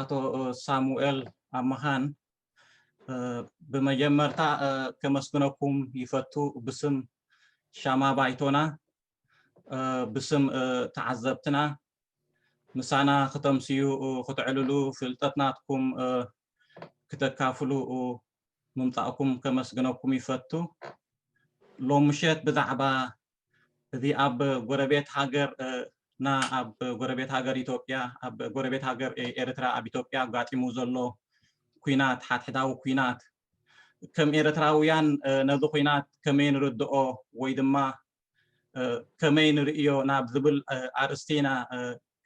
ኣቶ ሳሙኤል ኣብ መኻን ብመጀመርታ ከመስግነኩም ይፈቱ ብስም ሻማ ባይቶና ብስም ተዓዘብትና ምሳና ክተምስዩ ክትዕልሉ ፍልጠት ናትኩም ክተካፍሉ ምምጻእኩም ከመስግነኩም ይፈቱ። ሎም ምሸት ብዛዕባ እዚ ኣብ ጎረቤት ሃገር ና ኣብ ጎረቤት ሃገር ኢትዮጵያ ኣብ ጎረቤት ሃገር ኤርትራ ኣብ ኢትዮጵያ ኣጋጢሙ ዘሎ ኩናት ሓድሕዳዊ ኩናት ከም ኤርትራውያን ነዚ ኩናት ከመይ ንርድኦ ወይ ድማ ከመይ ንርእዮ ናብ ዝብል ኣርእስቲ ኢና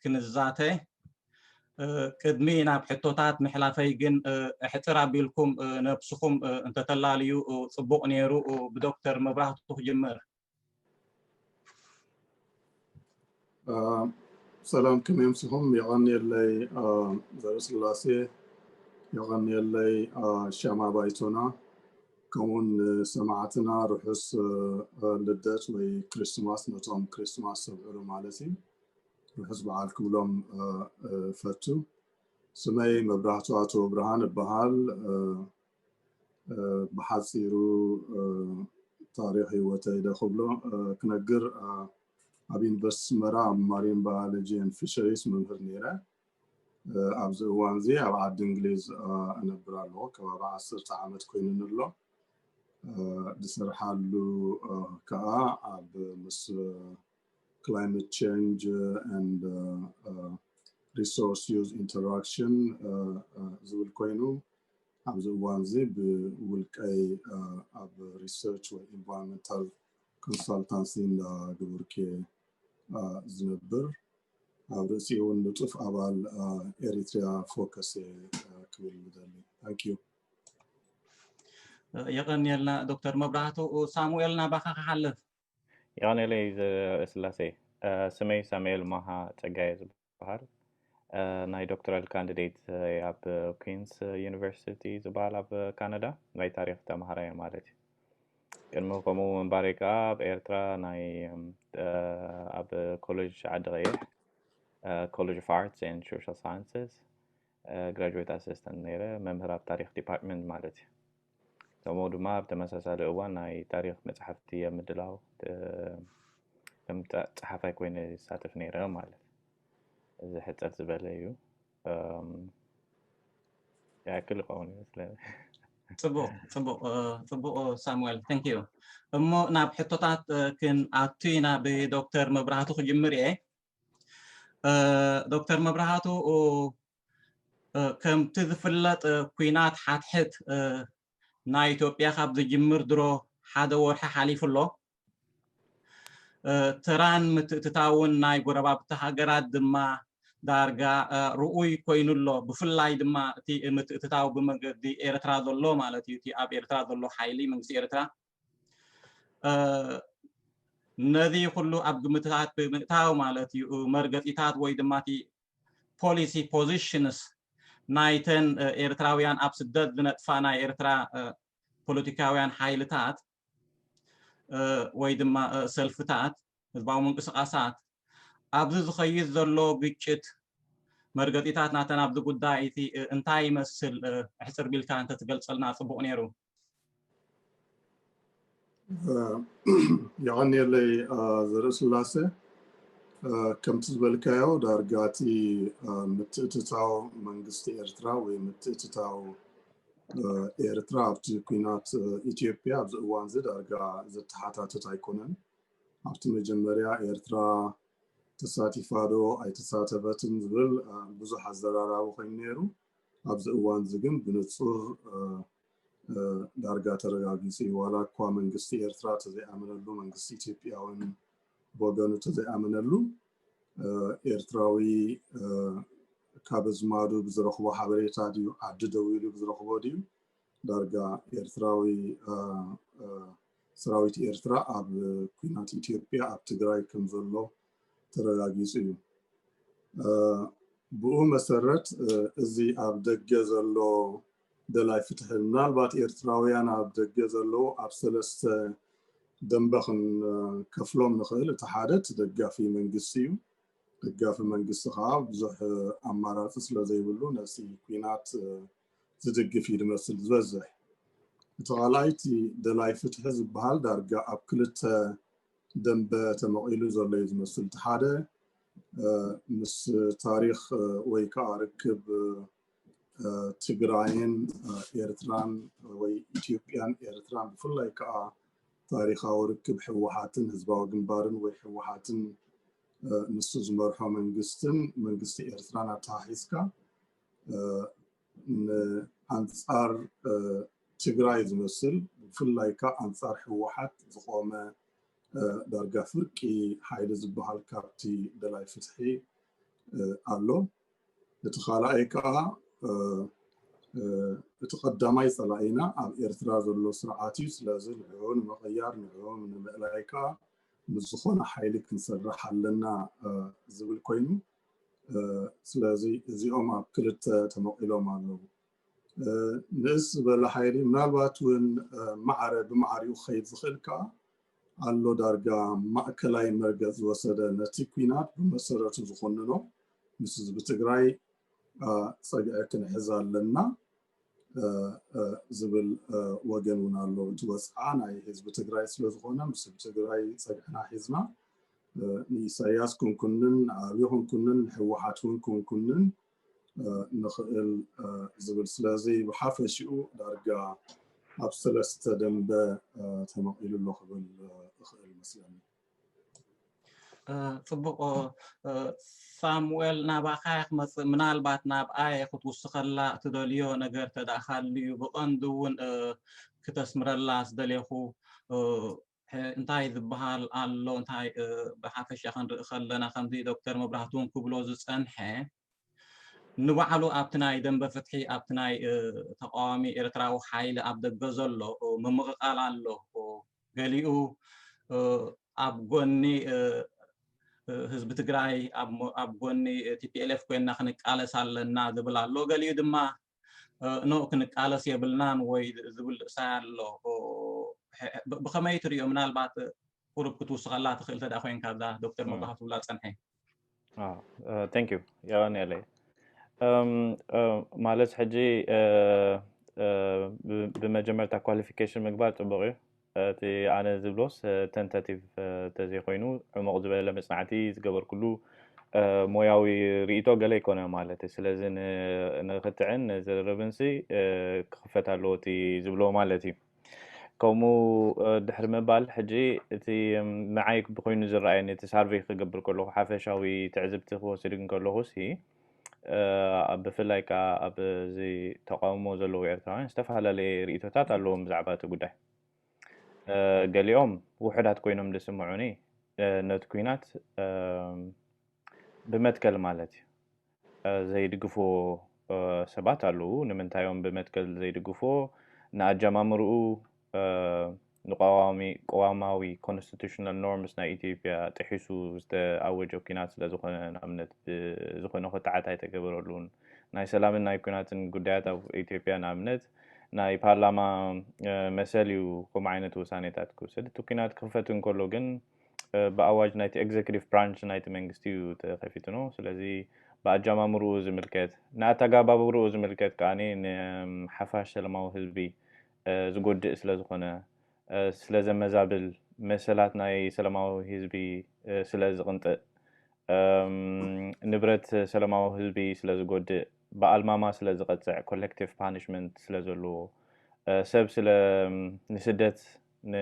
ክንዛተ። ቅድሚ ናብ ሕቶታት ምሕላፈይ ግን ሕጽር ኣቢልኩም ነብስኹም እንተተላልዩ ጽቡቕ ነይሩ። ብዶክተር መብራህቱ ክጅምር። ሰላም ከመይ ኣምሲኹም የቐንየለይ ዘርእስላሴ የቐንየለይ ሻማ ባይቶና ከምኡውን ሰማዕትና ርሑስ ልደት ወይ ክሪስትማስ ነቶም ክሪስትማስ ሰብዕሉ ማለት እዩ ርሑስ በዓል ክብሎም ፈቱ ስመይ መብራህቱ ኣቶ ብርሃን እበሃል ብሓፂሩ ታሪክ ሂወተይ ዶ ክብሎ ክነግር ኣብ ዩኒቨርስቲ ኣስመራ ኣብ ማሪን ባዮሎጂ ን ፊሸሪስ መምህር ነይረ። ኣብዚ እዋን እዚ ኣብ ዓዲ እንግሊዝ እነብር ኣለኩ ከባቢ ዓሰርተ ዓመት ኮይኑኒ ኣሎ። ዝሰርሓሉ ከዓ ኣብ ምስ ክላይመት ቼንጅ ኤንድ ሪሶርስ ዩዝ ኢንተራክሽን ዝብል ኮይኑ ኣብዚ እዋን እዚ ብውልቀይ ኣብ ሪሰርች ወይ ኢንቫይሮንመንታል ኮንሳልታንሲ እንዳገበርኩ እየ ዝነብር። ኣብ ርእሲኡ እውን ንጡፍ ኣባል ኤሪትሪያ ፎከስ እየ ክብል ዝደሊ። ታንኪዩ። የቐንየልና ዶክተር መብራህቱ ሳሙኤል ናባኻ ክሓልፍ የቐንየለይ ስላሴ ስመይ ሳሙኤል ማሃ ጸጋየ ዝብሃል ዝበሃል ናይ ዶክተራል ካንዲዴት ኣብ ኩንስ ዩኒቨርሲቲ ዝበሃል ኣብ ካናዳ ናይ ታሪክ ተምሃራይ እየ ማለት እዩ ቅድሚ ከምኡ ምንባሪ ከዓ ኣብ ኤርትራ ናይ ኣብ ኮሌጅ ዓዲ ቀይሕ ኮሌጅ ኦፍ ኣርትስ ን ሶሻል ሳይንስስ ግራጅዌት ኣሰስታንት ነይረ፣ መምህር ኣብ ታሪኽ ዲፓርትመንት ማለት እዩ። ከምኡ ድማ ኣብ ተመሳሳሊ እዋን ናይ ታሪኽ መፅሓፍቲ ኣብ ምድላው ከም ፀሓፋይ ኮይነ ይሳተፍ ነይረ ማለት እዚ ሕፅር ዝበለ እዩ ያክል ይኸውን እዩ ስለ ፅቡቅ ፅቡቅ ፅቡቅ ሳሙኤል ተንክ ዩ እሞ ናብ ሕቶታት ክንኣቱ ኢና ብዶክተር መብራህቱ ክጅምር እየ ዶክተር መብርሃቱ ከምቲ ዝፍለጥ ኩናት ሓትሕት ናይ ኢትዮጵያ ካብ ዝጅምር ድሮ ሓደ ወርሒ ሓሊፉ ኣሎ ተራን ምትእትታውን ናይ ጎረባብቲ ሃገራት ድማ ዳርጋ ርኡይ ኮይኑ ኣሎ ብፍላይ ድማ እቲ ምትእትታው ብመገዲ ኤርትራ ዘሎ ማለት እዩ እቲ ኣብ ኤርትራ ዘሎ ሓይሊ መንግስቲ ኤርትራ ነዚ ኩሉ ኣብ ግምትታት ብምእታው ማለት እዩ መርገፂታት ወይ ድማ እቲ ፖሊሲ ፖዚሽንስ ናይተን ኤርትራውያን ኣብ ስደት ዝነጥፋ ናይ ኤርትራ ፖለቲካውያን ሓይልታት ወይ ድማ ሰልፍታት ህዝባዊ ምንቅስቓሳት ኣብዚ ዝኸይድ ዘሎ ግጭት መርገፂታት ናተን ኣብዚ ጉዳይ እቲ እንታይ ይመስል ሕፅር ቢልካ እንተትገልፀልና ፅቡቕ ነይሩ የቐንየለይ ዘርእስላሰ ከምቲ ዝበልካዮ ዳርጋ እቲ ምትእትታው መንግስቲ ኤርትራ ወይ ምትእትታው ኤርትራ ኣብቲ ኩናት ኢትዮጵያ ኣብዚ እዋን እዚ ዳርጋ ዘተሓታትት ኣይኮነን ኣብቲ መጀመርያ ኤርትራ ተሳቲፋ ዶ ኣይተሳተፈትን ዝብል ብዙሕ ኣዘራራቢ ኮይኑ ነይሩ ኣብዚ እዋንዚ ግን ብንጹር ዳርጋ ተረጋጊጹ እዩ። ዋላ እኳ መንግስቲ ኤርትራ ተዘይኣመነሉ፣ መንግስቲ ኢትዮጵያ እውን ብወገኑ ተዘይኣመነሉ፣ ኤርትራዊ ካብ ኣዝማዱ ብዝረኽቦ ሓበሬታ ድዩ ዓዲ ደው ኢሉ ብዝረኽቦ ድዩ ዳርጋ ኤርትራዊ ሰራዊት ኤርትራ ኣብ ኲናት ኢትዮጵያ ኣብ ትግራይ ከምዘሎ ተረጋጊፁ እዩ። ብኡ መሰረት እዚ ኣብ ደገ ዘሎ ደላይ ፍትሒ ምናልባት ኤርትራውያን ኣብ ደገ ዘለዉ ኣብ ሰለስተ ደንበ ክንከፍሎም ንኽእል እቲ ሓደ እቲ ደጋፊ መንግስቲ እዩ ደጋፊ መንግስቲ ከዓ ብዙሕ ኣማራፂ ስለ ዘይብሉ ነዚ ኩናት ዝድግፍ እዩ ዝመስል ዝበዝሕ እቲ ካልኣይቲ ደላይ ፍትሒ ዝበሃል ዳርጋ ኣብ ክልተ ደምበ ተመቒሉ ዘሎ እዩ ዝመስል። እቲ ሓደ ምስ ታሪኽ ወይ ከዓ ርክብ ትግራይን ኤርትራን ወይ ኢትዮጵያን ኤርትራን ብፍላይ ከዓ ታሪኻዊ ርክብ ህወሓትን ህዝባዊ ግንባርን ወይ ህወሓትን ንሱ ዝመርሖ መንግስትን መንግስቲ ኤርትራን ኣተሓሒዝካ ንኣንፃር ትግራይ ዝመስል ብፍላይ ካዓ ኣንፃር ህወሓት ዝቆመ ዳርጋ ፍርቂ ሓይሊ ዝባሃል ካብቲ ደላይ ፍትሒ ኣሎ። እቲ ካላኣይ ካዓ እቲ ቀዳማይ ፀላኢና ኣብ ኤርትራ ዘሎ ስርዓት እዩ። ስለዚ ንዕዑ ንምቅያር ንዕዑ ንምእላይ ካዓ ምስ ዝኾነ ሓይሊ ክንሰርሕ ኣለና ዝብል ኮይኑ ስለዚ እዚኦም ኣብ ክልተ ተመቒሎም ኣለዉ ንእስ ዝበለ ሓይሊ ምናልባት እውን ማዕረ ብማዕሪኡ ክኸይድ ዝኽእል ከዓ ኣሎ ዳርጋ ማእከላይ መርገፅ ዝወሰደ ነቲ ኩናት ብመሰረቱ ዝኾንኖ ምስ ህዝቢ ትግራይ ፀግዒ ክንሕዝ ኣለና ዝብል ወገን እውን ኣሎ እቲ ወፅዓ ናይ ህዝቢ ትግራይ ስለዝኾነ ምስ ህዝቢ ትግራይ ፀግዕና ሒዝና ንኢሳያስ ክንኩንን ንኣብዮ ክንኩንን ንሕወሓት እውን ክንኩንን ንኽእል ዝብል ስለዚ ብሓፈሽኡ ዳርጋ ኣብ ሰለስተ ደንበ ተመቒሉ ኣሎ ክብል እኽእል መስለኒ ፅቡቕ ሳሙኤል ናባኻ እየ ክመፅእ ምናልባት ናብ ኣየ ክትውስኸላ እትደልዮ ነገር ተደኣ ሃልዩ ብቐንዱ እውን ክተስምረላ ዝደልየኹ እንታይ ዝበሃል ኣሎ እንታይ ብሓፈሻ ክንርኢ ከለና ከምዚ ዶክተር መብራህቱ እውን ክብሎ ዝፀንሐ ንባዕሉ ኣብቲ ናይ ደንበ ፍትሒ ኣብቲ ናይ ተቃዋሚ ኤርትራዊ ሓይሊ ኣብ ደገ ዘሎ ምምቕቓል ኣሎ ገሊኡ ኣብ ጎኒ ህዝቢ ትግራይ ኣብ ጎኒ ቲፒኤልኤፍ ኮይንና ክንቃለስ ኣለና ዝብል ኣሎ ገሊኡ ድማ ኖእ ክንቃለስ የብልናን ወይ ዝብል ርእሳይ ኣሎ ብኸመይ ትሪዮ ምናልባት ቁሩብ ክትውስኸላ ትኽእል ተዳ ኮይንካ ብዛ ዶክተር መባህ ትብላ ፀንሐ ቴንክ ዩ የቐን የለይ ማለት ሕጂ ብመጀመርታ ኳሊፊኬሽን ምግባር ፅቡቅ እዩ እቲ ኣነ ዝብሎስ ተንተቲቭ ተዘይኮይኑ ዕሙቕ ዝበለ መጽናዕቲ ዝገበርኩሉ ሞያዊ ርኢቶ ገለ ኣይኮነ ማለት ስለዚ ንክትዕን ንዝርርብንሲ ክኽፈት ኣለዎ እቲ ዝብሎ ማለት እዩ ከምኡ ድሕሪ ምባል ሕጂ እቲ ንዓይ ብኮይኑ ዝረኣየኒ እቲ ሳርቨይ ክገብር ከለኹ ሓፈሻዊ ትዕዝብቲ ክወስድ እንከለኹሲ ብፍላይ ከዓ ኣብዚ ተቃውሞ ዘለዉ ኤርትራውያን ዝተፈላለየ ርእቶታት ኣለዎም ብዛዕባ እቲ ጉዳይ ገሊኦም ውሑዳት ኮይኖም ዝስምዑኒ ነቲ ኩናት ብመትከል ማለት እዩ ዘይድግፎ ሰባት ኣለዉ ንምንታይዮም ብመትከል ዘይድግፎ ንኣጀማምርኡ ንቐዋሚ ቅዋማዊ ኮንስቲቱሽናል ኖርምስ ናይ ኢትዮጵያ ጥሒሱ ዝተኣወጀ ኩናት ስለ ዝኾነ ንኣብነት ብዝኾነ ኮታዓት ኣይተገበረሉን ናይ ሰላምን ናይ ኩናትን ጉዳያት ኣብ ኢትዮጵያ ንኣብነት ናይ ፓርላማ መሰል እዩ ከምኡ ዓይነት ውሳኔታት ክውሰድ እቲ ኩናት ክኽፈት እንከሎ ግን ብኣዋጅ ናይቲ ኤግዜክቲቭ ብራንች ናይቲ መንግስቲ እዩ ተኸፊትኖ ስለዚ ብኣጃማምርኡ ዝምልከት ንኣተጋባብርኡ ዝምልከት ከዓኒ ንሓፋሽ ሰለማዊ ህዝቢ ዝጎድእ ስለ ዝኾነ፣ ስለ ዘመዛብል፣ መሰላት ናይ ሰለማዊ ህዝቢ ስለ ዝቕንጥእ፣ ንብረት ሰለማዊ ህዝቢ ስለ ዝጎድእ፣ ብኣልማማ ስለ ዝቐጽዕ፣ ኮለክቲቭ ፓኒሽመንት ስለ ዘልዎ፣ ሰብ ስለ ንስደት፣ ን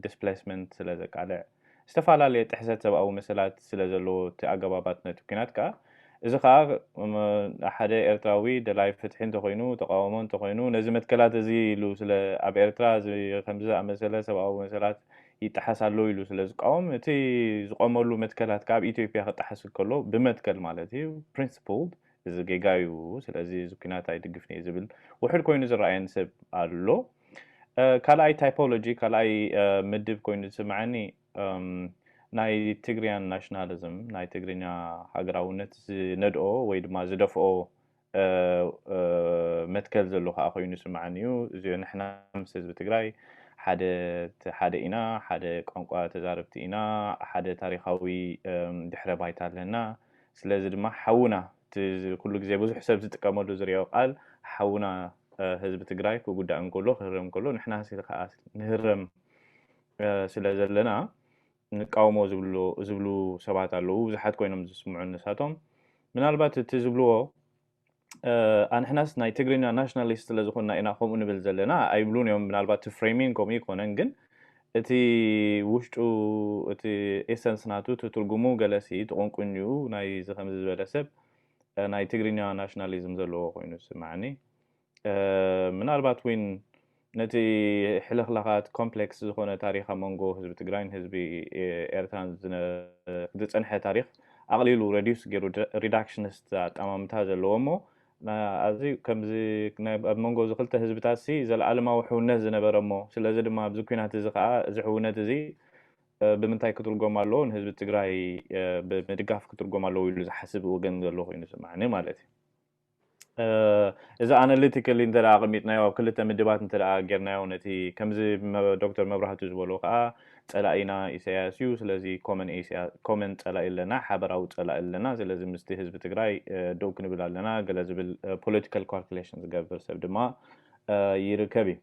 ዲስፕሌስመንት ስለ ዘቃልዕ፣ ዝተፈላለየ ጥሕሰት ሰብኣዊ መሰላት ስለ ዘለዎ እቲ ኣገባባት ነቲ ኲናት ከኣ እዚ ከኣ ሓደ ኤርትራዊ ደላይ ፍትሒ እንተኾይኑ ተቓውሞ እንተኾይኑ ነዚ መትከላት እዚ ኢሉ ስለ ኣብ ኤርትራ እዚ ከምዚ ዝኣመሰለ ሰብኣዊ መሰላት ይጠሓስ ኣሎ ኢሉ ስለ ዝቃወም እቲ ዝቖመሉ መትከላት ከኣ ኣብ ኢትዮጵያ ክጠሓስ እንከሎ ብመትከል ማለት እዩ፣ Principled፣ እዚ ጌጋ እዩ ስለዚ እዚ ኩናት ኣይድግፍን እየ ዝብል ውሑድ ኮይኑ ዝረኣየን ሰብ ኣሎ ካልኣይ ታይፖሎጂ ካልኣይ ምድብ ኮይኑ ዝስምዐኒ ናይ ትግርያን ናሽናሊዝም ናይ ትግርኛ ሃገራውነት ዝነድኦ ወይ ድማ ዝደፍኦ መትከል ዘሎ ከዓ ኮይኑ ይስምዐኒ እዩ እዚ ንሕና ምስ ህዝቢ ትግራይ ሓደ ኢና ሓደ ቋንቋ ተዛረብቲ ኢና ሓደ ታሪካዊ ድሕረ ባይታ ኣለና ስለዚ ድማ ሓውና እቲ ኩሉ ግዜ ብዙሕ ሰብ ዝጥቀመሉ ዝሪኦ ቃል ሓውና ህዝቢ ትግራይ ክጉዳእ እንከሎ ክህረም እንከሎ ንሕና ከዓ ንህረም ስለ ዘለና ንቃውሞ ዝብሉ ሰባት ኣለዉ ብዙሓት ኮይኖም ዝስምዑ ንሳቶም ምናልባት እቲ ዝብልዎ ኣንሕናስ ናይ ትግርኛ ናሽናሊስት ስለ ዝኾንና ኢና ከምኡ ንብል ዘለና ኣይብሉን እዮም ምናልባት እቲ ፍሬሚንግ ከምኡ ይኮነን ግን እቲ ውሽጡ እቲ ኤሰንስ ናቱ እቲ ትርጉሙ ገለሲ እቲ ቆንቁኝኡ ናይ እዚ ከምዚ ዝበለ ሰብ ናይ ትግርኛ ናሽናሊዝም ዘለዎ ኮይኑ ዝስማዓኒ ምናልባት ውን ነቲ ሕልኽላኻት ኮምፕሌክስ ዝኾነ ታሪኽ ኣብ መንጎ ህዝቢ ትግራይን ህዝቢ ኤርትራን ዝፀንሐ ታሪኽ ኣቕሊሉ ረዲዩስ ገይሩ ሪዳክሽንስት ኣጠማምታ ዘለዎ እሞ ኣዚ ከምዚ ኣብ መንጎ እዚ ክልተ ህዝብታት ሲ ዘለኣለማዊ ሕውነት ዝነበረ እሞ ስለዚ ድማ ኣብዚ ኩናት እዚ ከዓ እዚ ሕውነት እዚ ብምንታይ ክትርጎም ኣለዎ ንህዝቢ ትግራይ ብምድጋፍ ክትርጎም ኣለዎ ኢሉ ዝሓስብ ወገን ዘሎ ኮይኑ ዝስማዕኒ ማለት እዩ እዚ ኣነሊቲካሊ እንተ ኣቐሚጥናዮ ኣብ ክልተ ምድባት እንተ ጌርናዮ ነቲ ከምዚ ዶክተር መብራህቱ ዝበሎ ከኣ ጸላኢና ኢሰያስ እዩ ስለዚ ኮመን ጸላኢ ኣለና ሓበራዊ ጸላኢ ኣለና ስለዚ ምስቲ ህዝቢ ትግራይ ደው ክንብል ኣለና ገለ ዝብል ፖለቲካል ካልኩሌሽን ዝገብር ሰብ ድማ ይርከብ እዩ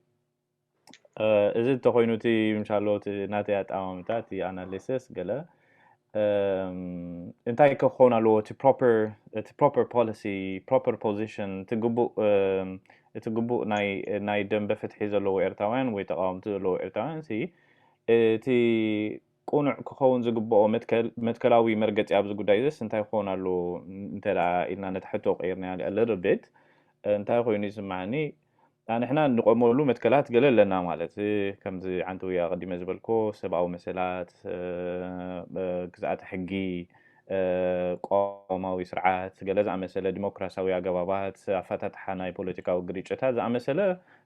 እዚ እንተኾይኑ እቲ ምሻሎ እቲ ናተይ ኣጠማምታ እቲ ኣናሊሲስ ገለ እንታይ ክኸውን ኣለዎ እቲ ፕሮፐር ፖሊሲ ፕሮፐር ፖዚሽን እቲ ግቡእ እቲ ግቡእ ናይ ደንበ ፍትሒ ዘለዎ ኤርትራውያን ወይ ተቃወምቲ ዘለዎ ኤርትራውያን እቲ ቅኑዕ ክኸውን ዝግበኦ መትከል፣ መትከላዊ መርገጺ ኣብዚ ጉዳይ'ዝስ እንታይ ክኸውን ኣለዎ እንተ ደኣ ኢልና ነታ ሕቶ ቀይርናያ a little bit እንታይ ኮይኑ ይስምዓኒ ኣንሕና እንቖመሉ መትከላት ገለ ኣለና ማለት ከምዚ ዓንተውያ ኣቐዲመ ዝበልክዎ ሰብኣዊ መሰላት፣ ግዝኣተ ሕጊ፣ ቅዋማዊ ስርዓት፣ ገለ ዝኣመሰለ ዲሞክራስያዊ ኣገባባት ኣፈታትሓ ናይ ፖለቲካዊ ግርጭታት ዝኣመሰለ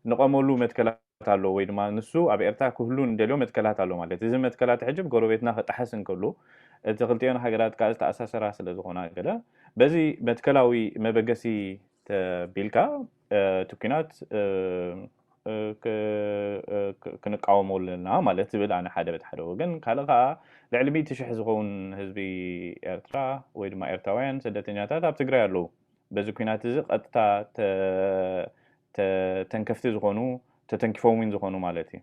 እንቘመሉ መትከላት። ኣሎ ወይ ድማ ንሱ ኣብ ኤርትራ ክህሉ ንደልዮ መትከላት ኣሎ ማለት እዚ መትከላት ሕጂ ብ ጎረቤትና ክጥሓስ እንከሎ እቲ ክልቲኤን ሃገራት ከኣ ዝተኣሳሰራ ስለ ዝኾና ገለ በዚ መትከላዊ መበገሲ ተቢልካ እቲ ኩናት ክንቃወሞ ኣለና ማለት ዝብል ኣነ ሓደ በቲ ሓደ ወገን ካልእ ከኣ ልዕሊ ሚእቲ ሽሕ ዝኸውን ህዝቢ ኤርትራ ወይ ድማ ኤርትራውያን ስደተኛታት ኣብ ትግራይ ኣለዉ በዚ ኩናት እዚ ቀጥታ ተተንከፍቲ ዝኾኑ ተተንኪፎም ዊን ዝኾኑ ማለት እዩ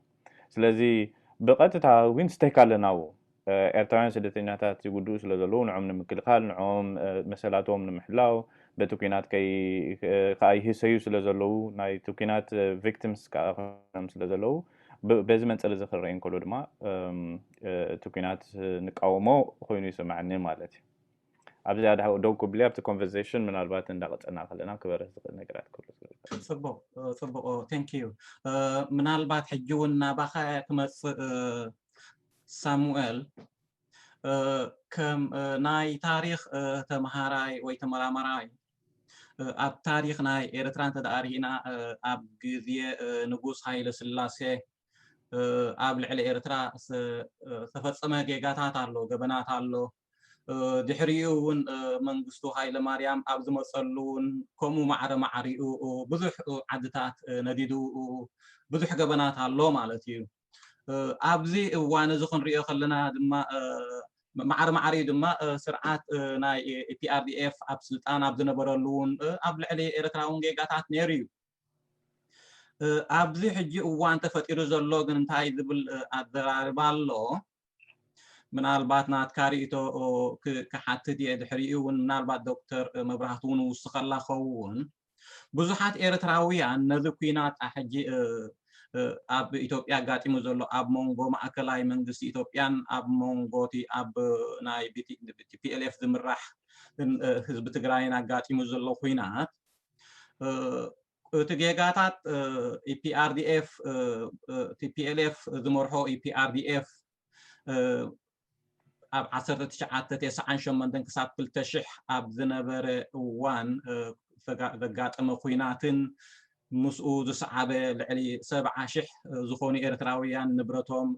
ስለዚ ብቐጥታ ዊን ስተክ ኣለና ው ኤርትራውያን ስደተኛታት ይጉድኡ ስለ ዘለዉ ንዖም ንምክልኻል ንዖም መሰላቶም ንምሕላው በቲ ኩናት ከዓ ይህሰዩ ስለ ዘለዉ ናይቲ ኩናት ቪክቲምስ ከዓ ኮይኖም ስለ ዘለዉ በዚ መንፅር እዚ ክረአ እንከሎ ድማ እቲ ኩናት ንቃወሞ ኮይኑ ይስማዕኒ ማለት እዩ ኣብዚኣ ደው ክብሊ ኣብቲ ኮንቨርሴሽን ምናልባት እንዳቀፀልና ከለና ክበርህ ዝኽእል ነገራት ክህሉ ስለዝኽእል ፅቡቅ ፅቡቅ ቴንክ ዩ ምናልባት ሕጂ እውን ናባኻ እያ ክመፅእ ሳሙኤል ከም ናይ ታሪኽ ተምሃራይ ወይ ተመራማራይ ኣብ ታሪኽ ናይ ኤርትራ እንተደኣ ርኢና ኣብ ግዜ ንጉስ ሃይለ ስላሴ ኣብ ልዕሊ ኤርትራ ዝተፈፀመ ጌጋታት ኣሎ ገበናት ኣሎ ድሕሪኡ እውን መንግስቱ ሃይለማርያም ኣብ ዝመፀሉ እውን ከምኡ ማዕረ ማዕሪኡ ብዙሕ ዓድታት ነዲዱ ብዙሕ ገበናት ኣሎ ማለት እዩ ኣብዚ እዋን እዚ ክንሪኦ ከለና ድማ ማዕሪ ማዕሪ ድማ ስርዓት ናይ ፒኣርዲኤፍ ኣብ ስልጣን ኣብ ዝነበረሉ እውን ኣብ ልዕሊ ኤርትራ እውን ጌጋታት ነይሩ እዩ ኣብዚ ሕጂ እዋን ተፈጢሩ ዘሎ ግን እንታይ ዝብል ኣዘራርባ ኣሎ ምናልባት ናትካ ርእቶ ክሓትት እየ ድሕሪኡ እውን ምናልባት ዶክተር መብራህቱ እውን ውስኸላ ኸውን ብዙሓት ኤርትራውያን ነዚ ኩናት ኣሕጂ ኣብ ኢትዮጵያ ኣጋጢሙ ዘሎ ኣብ መንጎ ማእከላይ መንግስቲ ኢትዮጵያን ኣብ መንጎ እቲ ኣብ ናይ ቲፒኤልኤፍ ዝምራሕ ህዝቢ ትግራይን ኣጋጢሙ ዘሎ ኩናት እቲ ጌጋታት ኢፒኣርዲኤፍ ቲፒኤልኤፍ ዝመርሖ ኢፒኣርዲኤፍ ኣብ 1998 ክሳብ 2000 ኣብ ዝነበረ እዋን ዘጋጠመ ኩናትን ምስኡ ዝሰዓበ ልዕሊ ሰብዓ ሽሕ ዝኾኑ ኤርትራውያን ንብረቶም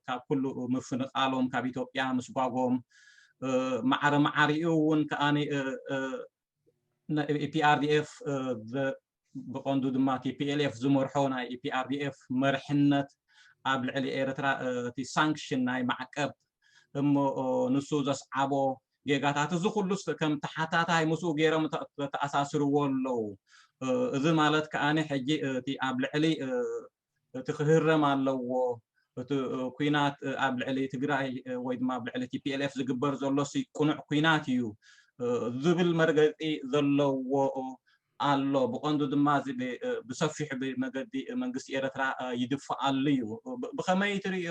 ካብ ኩሉ ምፍንቓሎም ካብ ኢትዮጵያ ምስጓጎም ማዕረ ማዕሪኡ እውን ከኣ ኢፒኣርዲኤፍ ብቐንዱ ድማ ቲፒኤልኤፍ ዝመርሖ ናይ ኢፒኣርዲኤፍ መርሕነት ኣብ ልዕሊ ኤርትራ እቲ ሳንክሽን ናይ ማዕቀብ እሞ ንሱ ዘስዓቦ ጌጋታት እዚ ኩሉስ ከም ተሓታታይ ምስኡ ገይሮም ተኣሳስርዎ ኣለዉ እዚ ማለት ከዓኒ ሕጂ እቲ ኣብ ልዕሊ እቲ ክህረም ኣለዎ እቲ ኩናት ኣብ ልዕሊ ትግራይ ወይ ድማ ኣብ ልዕሊ ቲፒኤልኤፍ ዝግበር ዘሎ ቁኑዕ ኩናት እዩ ዝብል መርገፂ ዘለዎ ኣሎ ብቐንዱ ድማ እዚ ብሰፊሑ ብመገዲ መንግስቲ ኤረትራ ይድፋኣሉ እዩ ብኸመይ ትርእዮ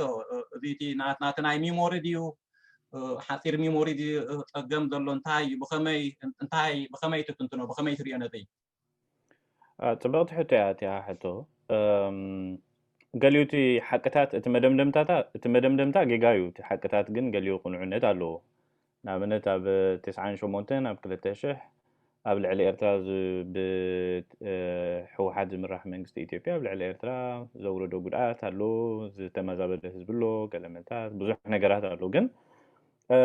እዚ እቲ ናትና ናይ ሚሞሪ ድዩ ሓፂር ሚሞሪ ፀገም ዘሎ እንታይ እዩ ብኸመይ እንታይ ብኸመይ ትትንትኖ ብኸመይ ትርእዮ ነዚ ፅብቕቲ ሕቶ እያ እቲኣ ሕቶ ገሊኡ እቲ ሓቅታት እቲ መደምደምታታ እቲ መደምደምታ ጌጋ እዩ እቲ ሓቅታት ግን ገሊኡ ቅኑዕነት ኣለዎ ንኣብነት ኣብ ትስዓን ሸሞንተን ኣብ ክልተ ሽሕ ኣብ ልዕሊ ኤርትራ ብህወሓት ዝምራሕ መንግስቲ ኢትዮጵያ ኣብ ልዕሊ ኤርትራ ዘውረዶ ጉድኣት ኣሎ ዝተመዛበለ ህዝቢ ኣሎ ገለመንታት ብዙሕ ነገራት ኣሎ ግን እ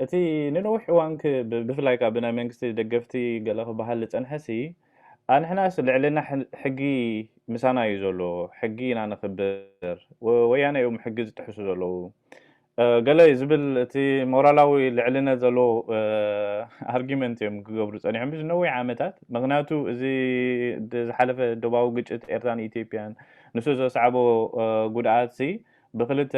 እቲ ንነዊሕ እዋን ክ ብ ብፍላይ ከኣ ብናይ መንግስቲ ደገፍቲ ገለ ክበሃል ዝጸንሐሲ ኣንሕናስ ልዕልና ሕ ሕጊ ምሳና እዩ ዘሎ ሕጊ ኢና ነኽብር ወ ወያነ እዮም ሕጊ ዝጥሕሱ ዘለዉ እ ገለ ዝብል እቲ ሞራላዊ ልዕልነት ዘለዎ እ ኣርጊመንት እዮም ክገብሩ ጸኒሖም እዚ ነዊሕ ዓመታት ምኽንያቱ እዚ ድ ዝሓለፈ ዶባዊ ግጭት ኤርትራን ኢትዮጵያን ንሱ ዘስዓቦ እ ጉድኣትሲ ብክልተ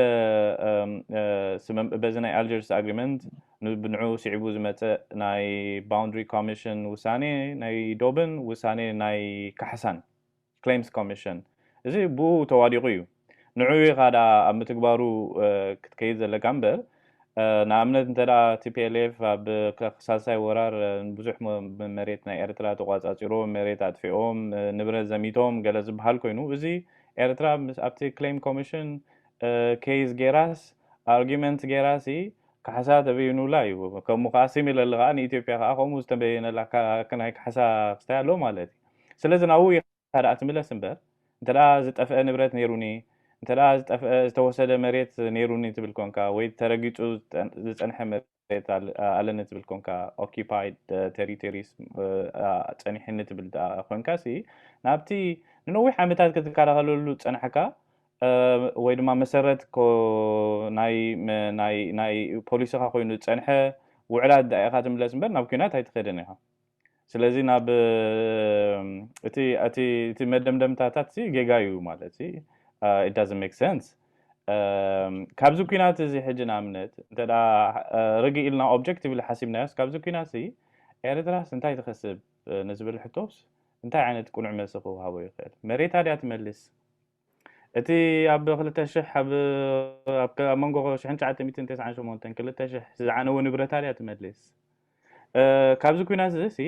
ስምም በዚ ናይ ኣልጀርስ ኣግሪመንት ንብንዑ ስዒቡ ዝመፀ ናይ ባውንድሪ ኮሚሽን ውሳኔ ናይ ዶብን ውሳኔ ናይ ካሕሳን ክሌምስ ኮሚሽን እዚ ብኡ ተዋዲቑ እዩ ንዑ ኢኻ ደኣ ኣብ ምትግባሩ ክትከይድ ዘለካ እምበር ንኣብነት እንተ tplf ኣብ ሳልሳይ ወራር ንብዙሕ መሬት ናይ ኤርትራ ተቋጻጺሮም መሬት ኣጥፊኦም ንብረት ዘሚቶም ገለ ዝብሃል ኮይኑ እዚ ኤርትራ ምስ ኣብቲ ክሌም ኮምሽን ኬዝ ጌራስ ኣርጊመንት ጌራሲ ካሕሳ ተበይኑላ እዩ ከምኡ ከዓ ሲሚለሊ ከዓ ንኢትዮጵያ ከዓ ከምኡ ዝተበየነላ ናይ ካሕሳ ክስታይ ኣሎ ማለት እዩ ስለዚ ናብኡ ካድኣ ትምለስ እምበር እንተድኣ ዝጠፍኣ ንብረት ነይሩኒ እንተድኣ ዝጠፍኣ ዝተወሰደ መሬት ነይሩኒ ትብል ኮንካ ወይ ተረጊጹ ዝጸንሐ መሬት ኣለኒ ትብል ኮንካ Occupied Territories ጸኒሑኒ ትብል ድኣ ኮንካሲ ናብቲ ንነዊሕ ዓመታት ክትከላኸለሉ ዝጸናሕካ ወይ ድማ መሰረት ናይ ናይ ናይ ፖሊስኻ ኮይኑ ዝጸንሐ ውዕላት ድኣ ኢኻ ትምለስ እምበር ናብ ኲናት ኣይትኸድን ኢኻ። ስለዚ ናብ እቲ እቲ እቲ መደምደምታታት ሲ ጌጋ እዩ ማለት ሲ it doesn't make sense እም፣ ካብዚ ኲናት እዚ ሕጂ ንኣብነት እንተ ደኣ ርግእ ኢልና ኦብጀክቲቭሊ ሓሲብናዮስ ካብዚ ኲናት እዚ ኤርትራስ እንታይ ትኸስብ እ፣ ንዝብል ሕቶስ እንታይ ዓይነት ቅኑዕ መልሲ ክወሃቦ ይኽእል? መሬታ ድያ ትመልስ? እቲ ኣብ ክልተ ሽሕ ኣብ ኣብ መንጎ ሽሕን ትሽዓተ ሚእትን ተስዓን ሸሞንተን ክልተ ሽሕ ዝዓነወ ንብረታ ድያ ትመልስ ካብዚ ኩናት እዚ ሲ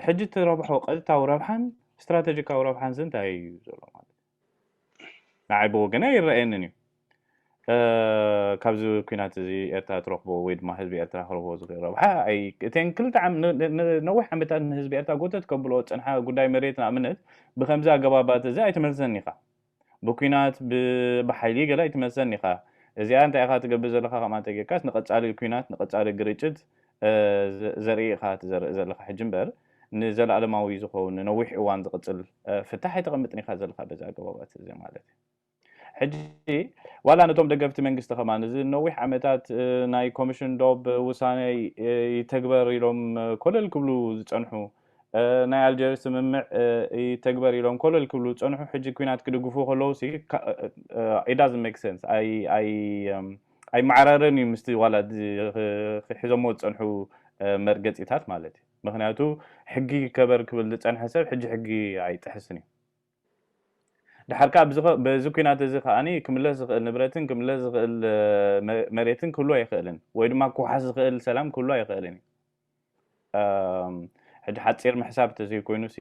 ሕጂ ትረብሖ ቀጥታዊ ረብሓን ስትራተጂካዊ ረብሓን ሲ እንታይ እዩ ዘሎ ማለት ንዓይ ብወገነይ ኣይረኣየንን እዩ ካብዚ ኩናት እዚ ኤርትራ ትረክቦ ወይ ድማ ህዝቢ ኤርትራ ክረክቦ ዝክእል ረብሓ ኣይ እተን ክልተ ዓም ነዊሕ ዓመታት ንህዝቢ ኤርትራ ጎተት ከብልኦ ዝጸንሓ ጉዳይ መሬት ንኣብነት ብከምዚ ኣገባባት እዚ ኣይትመልሰን ኢካ ብኩናት ብሓይሊ ገለ ኣይትመልሰን ኢካ እዚኣ እንታይ ኢካ ትገብር ዘለካ ከምኣ እንተጌርካስ ንቀጻሊ ኩናት ንቀጻሊ ግርጭት ዘርኢ ኢካ ትዘርእ ዘለካ ሕጂ እምበር ንዘለኣለማዊ ዝኸውን ንነዊሕ እዋን ዝቅጽል ፍታሕ ኣይተቀምጥን ኢካ ዘለካ በዚ ኣገባባት እዚ ማለት እዩ ሕጂ ዋላ ነቶም ደገፍቲ መንግስቲ ከማን እዚ ንነዊሕ ዓመታት ናይ ኮምሽን ዶብ ውሳነ ይተግበር ኢሎም ኮለል ክብሉ ዝጸንሑ ናይ ኣልጀርስ ስምምዕ ይተግበር ኢሎም ኮለል ክብሉ ዝጸንሑ ሕጂ ኩናት ክድግፉ ከለዉ ሲ it doesn't make sense I I um, ኣይመዓራረን እዩ ምስቲ ዋላ ክሒዞሞ ዝፀንሑ መርገፂታት ማለት እዩ ምክንያቱ ሕጊ ይከበር ክብል ዝፀንሐ ሰብ ሕጂ ሕጊ ኣይጥሕስን እዩ ድሓር ከኣ በዚ ኲናት እዚ ከኣ ክምለስ ዝኽእል ንብረትን ክምለስ ዝኽእል መሬትን ክህሉ ኣይኽእልን ወይ ድማ ክውሓስ ዝኽእል ሰላም ክህሉ ኣይኽእልን እዩ። ሕጂ ሓጺር ምሕሳብ እንተዘይኮይኑሲ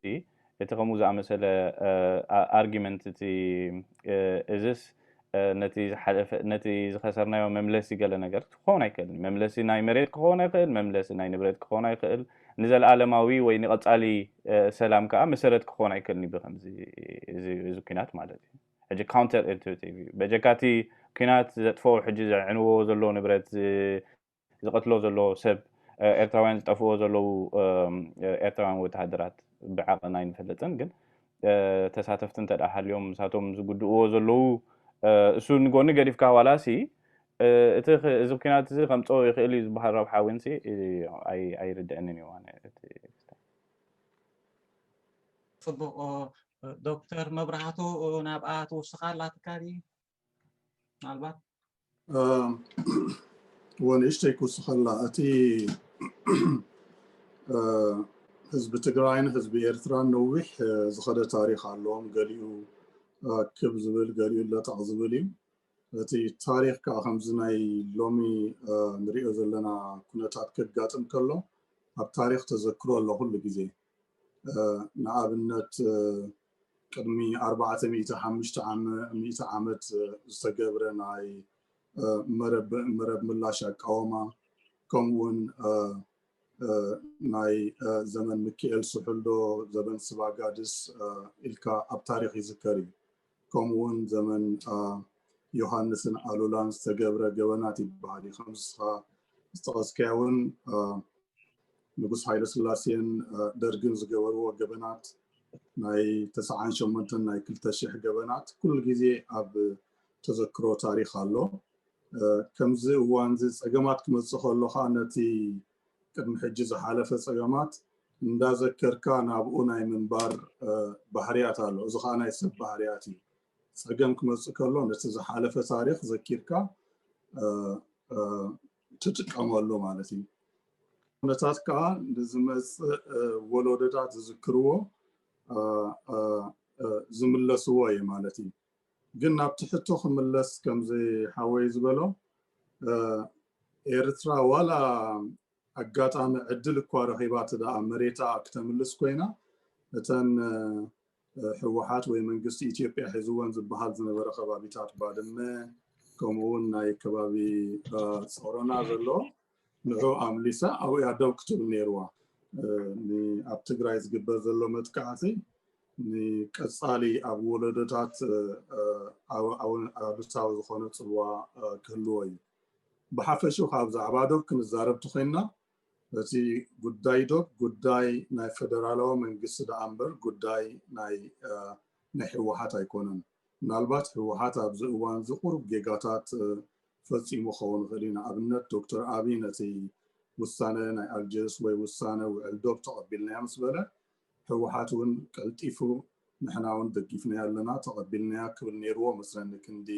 እቲ ከምኡ ዝኣመሰለ ኣርጊመንት እቲ እዝስ ነቲ ዝሓለፈ ነቲ ዝኸሰርናዮ መምለሲ ገለ ነገር ክኸውን ኣይክእልን። መምለሲ ናይ መሬት ክኸውን ኣይክእል፣ መምለሲ ናይ ንብረት ክኸውን ኣይክእል፣ ንዘልኣለማዊ ወይ ንቐጻሊ ሰላም ከኣ መሰረት ክኸውን ኣይክእልን እዩ ብከምዚ እዚ እዚ ኩናት ማለት እዩ። ሕጂ ካውንተር ኢንቱቲቭ እዩ በጀካ እቲ ኩናት ዘጥፈኦ ሕጂ ዘዕንዎ ዘሎ ንብረት ዝቐትሎ ዘሎ ሰብ ኤርትራውያን ዝጠፍእዎ ዘለዉ ኤርትራውያን ወተሃደራት ብዓቐን ኣይንፈልጥን ግን ተሳተፍቲ እንተ ሃልዮም ንሳቶም ዝጉድእዎ ዘለዉ እሱ ንጎኒ ገዲፍካ ዋላሲ እቲ እዚ ኩናት እዚ ከምፀኦ ይኽእል እዩ ዝበሃል ረብሓ እውን ኣይርድአንን እዩ ኣነ ፅቡቕ ዶክተር መብራህቱ ናብኣ ትውስኻ ኣላ ትካል ምናልባት ወንእሽተይ ክውስኸላ እቲ ህዝቢ ትግራይን ህዝቢ ኤርትራን ነዊሕ ዝኸደ ታሪክ ኣለዎም ገሊኡ ክብ ዝብል ገሊኡ ለጠቕ ዝብል እዩ እቲ ታሪክ ከዓ ከምዚ ናይ ሎሚ ንሪኦ ዘለና ኩነታት ከጋጥም ከሎ ኣብ ታሪክ ተዘክሮ ኣሎ ኩሉ ግዜ ንኣብነት ቅድሚ ኣርባዕተ ሚእቲ ሓሙሽተ ዓመ ሚእቲ ዓመት ዝተገብረ ናይ መረብ መረብ ምላሽ ኣቃወማ ከምኡውን ናይ ዘመን ምክኤል ስሑልዶ ዘበን ስባጋድስ ኢልካ ኣብ ታሪኽ ይዝከር እዩ ከምኡውን ዘመን ዮሃንስን ኣሉላን ዝተገብረ ገበናት ይበሃል እዩ ከምስኻ ዝተቐስከያ እውን ንጉስ ሃይለስላሴን ደርግን ዝገበርዎ ገበናት ናይ ተስዓን ሸሞንተን ናይ ክልተ ሽሕ ገበናት ኩሉ ግዜ ኣብ ተዘክሮ ታሪኽ ኣሎ። ከምዚ እዋን እዚ ጸገማት ክመጽእ ከሎ ከኣ ነቲ ቅድሚ ሕጂ ዝሓለፈ ጸገማት እንዳዘከርካ ናብኡ ናይ ምንባር ባህርያት ኣሎ። እዚ ከኣ ናይ ሰብ ባህርያት እዩ። ጸገም ክመጽእ ከሎ ነቲ ዝሓለፈ ታሪኽ ዘኪርካ ትጥቀመሉ ማለት እዩ ኩነታት ከዓ ንዝመፅእ ወለዶታት ዝዝክርዎ ዝምለስዎ እዩ ማለት እዩ ግን ናብ ትሕቶ ክምለስ ከምዚ ሓወይ ዝበሎ ኤርትራ ዋላ ኣጋጣሚ ዕድል እኳ ረኺባ እተደኣ መሬታ ክተምልስ ኮይና እተን ህወሓት ወይ መንግስቲ ኢትዮጵያ ሒዝወን ዝበሃል ዝነበረ ከባቢታት ባድመ ከምኡ እውን ናይ ከባቢ ፆሮና ዘሎ ንዑ ኣምሊሳ ኣብኡ እያ ደው ክትብል ነይርዋ ኣብ ትግራይ ዝግበር ዘሎ መጥቃዕቲ ንቀፃሊ ኣብ ወለዶታት ኣሉታዊ ዝኾነ ፅልዋ ክህልዎ እዩ ብሓፈሹ ካብ ዛዕባ ዶብ ክንዛረብ ተኮይንና እቲ ጉዳይ ዶብ ጉዳይ ናይ ፈደራላዊ መንግስቲ ደኣ እምበር ጉዳይ ናይ ናይ ህወሓት ኣይኮነን። ምናልባት ህወሓት ኣብዚ እዋን እዚ ቁሩብ ጌጋታት ፈፂሙ ክኸውን ይኽእል እዩ። ንኣብነት ዶክተር ኣብይ ነቲ ውሳነ ናይ ኣልጀርስ ወይ ውሳነ ውዕል ዶብ ተቐቢልናዮ ምስ በለ ህወሓት እውን ቀልጢፉ ንሕና እውን ደጊፍናዮ ኣለና ተቐቢልናያ ክብል ነይርዎ መስለኒ ክንዲ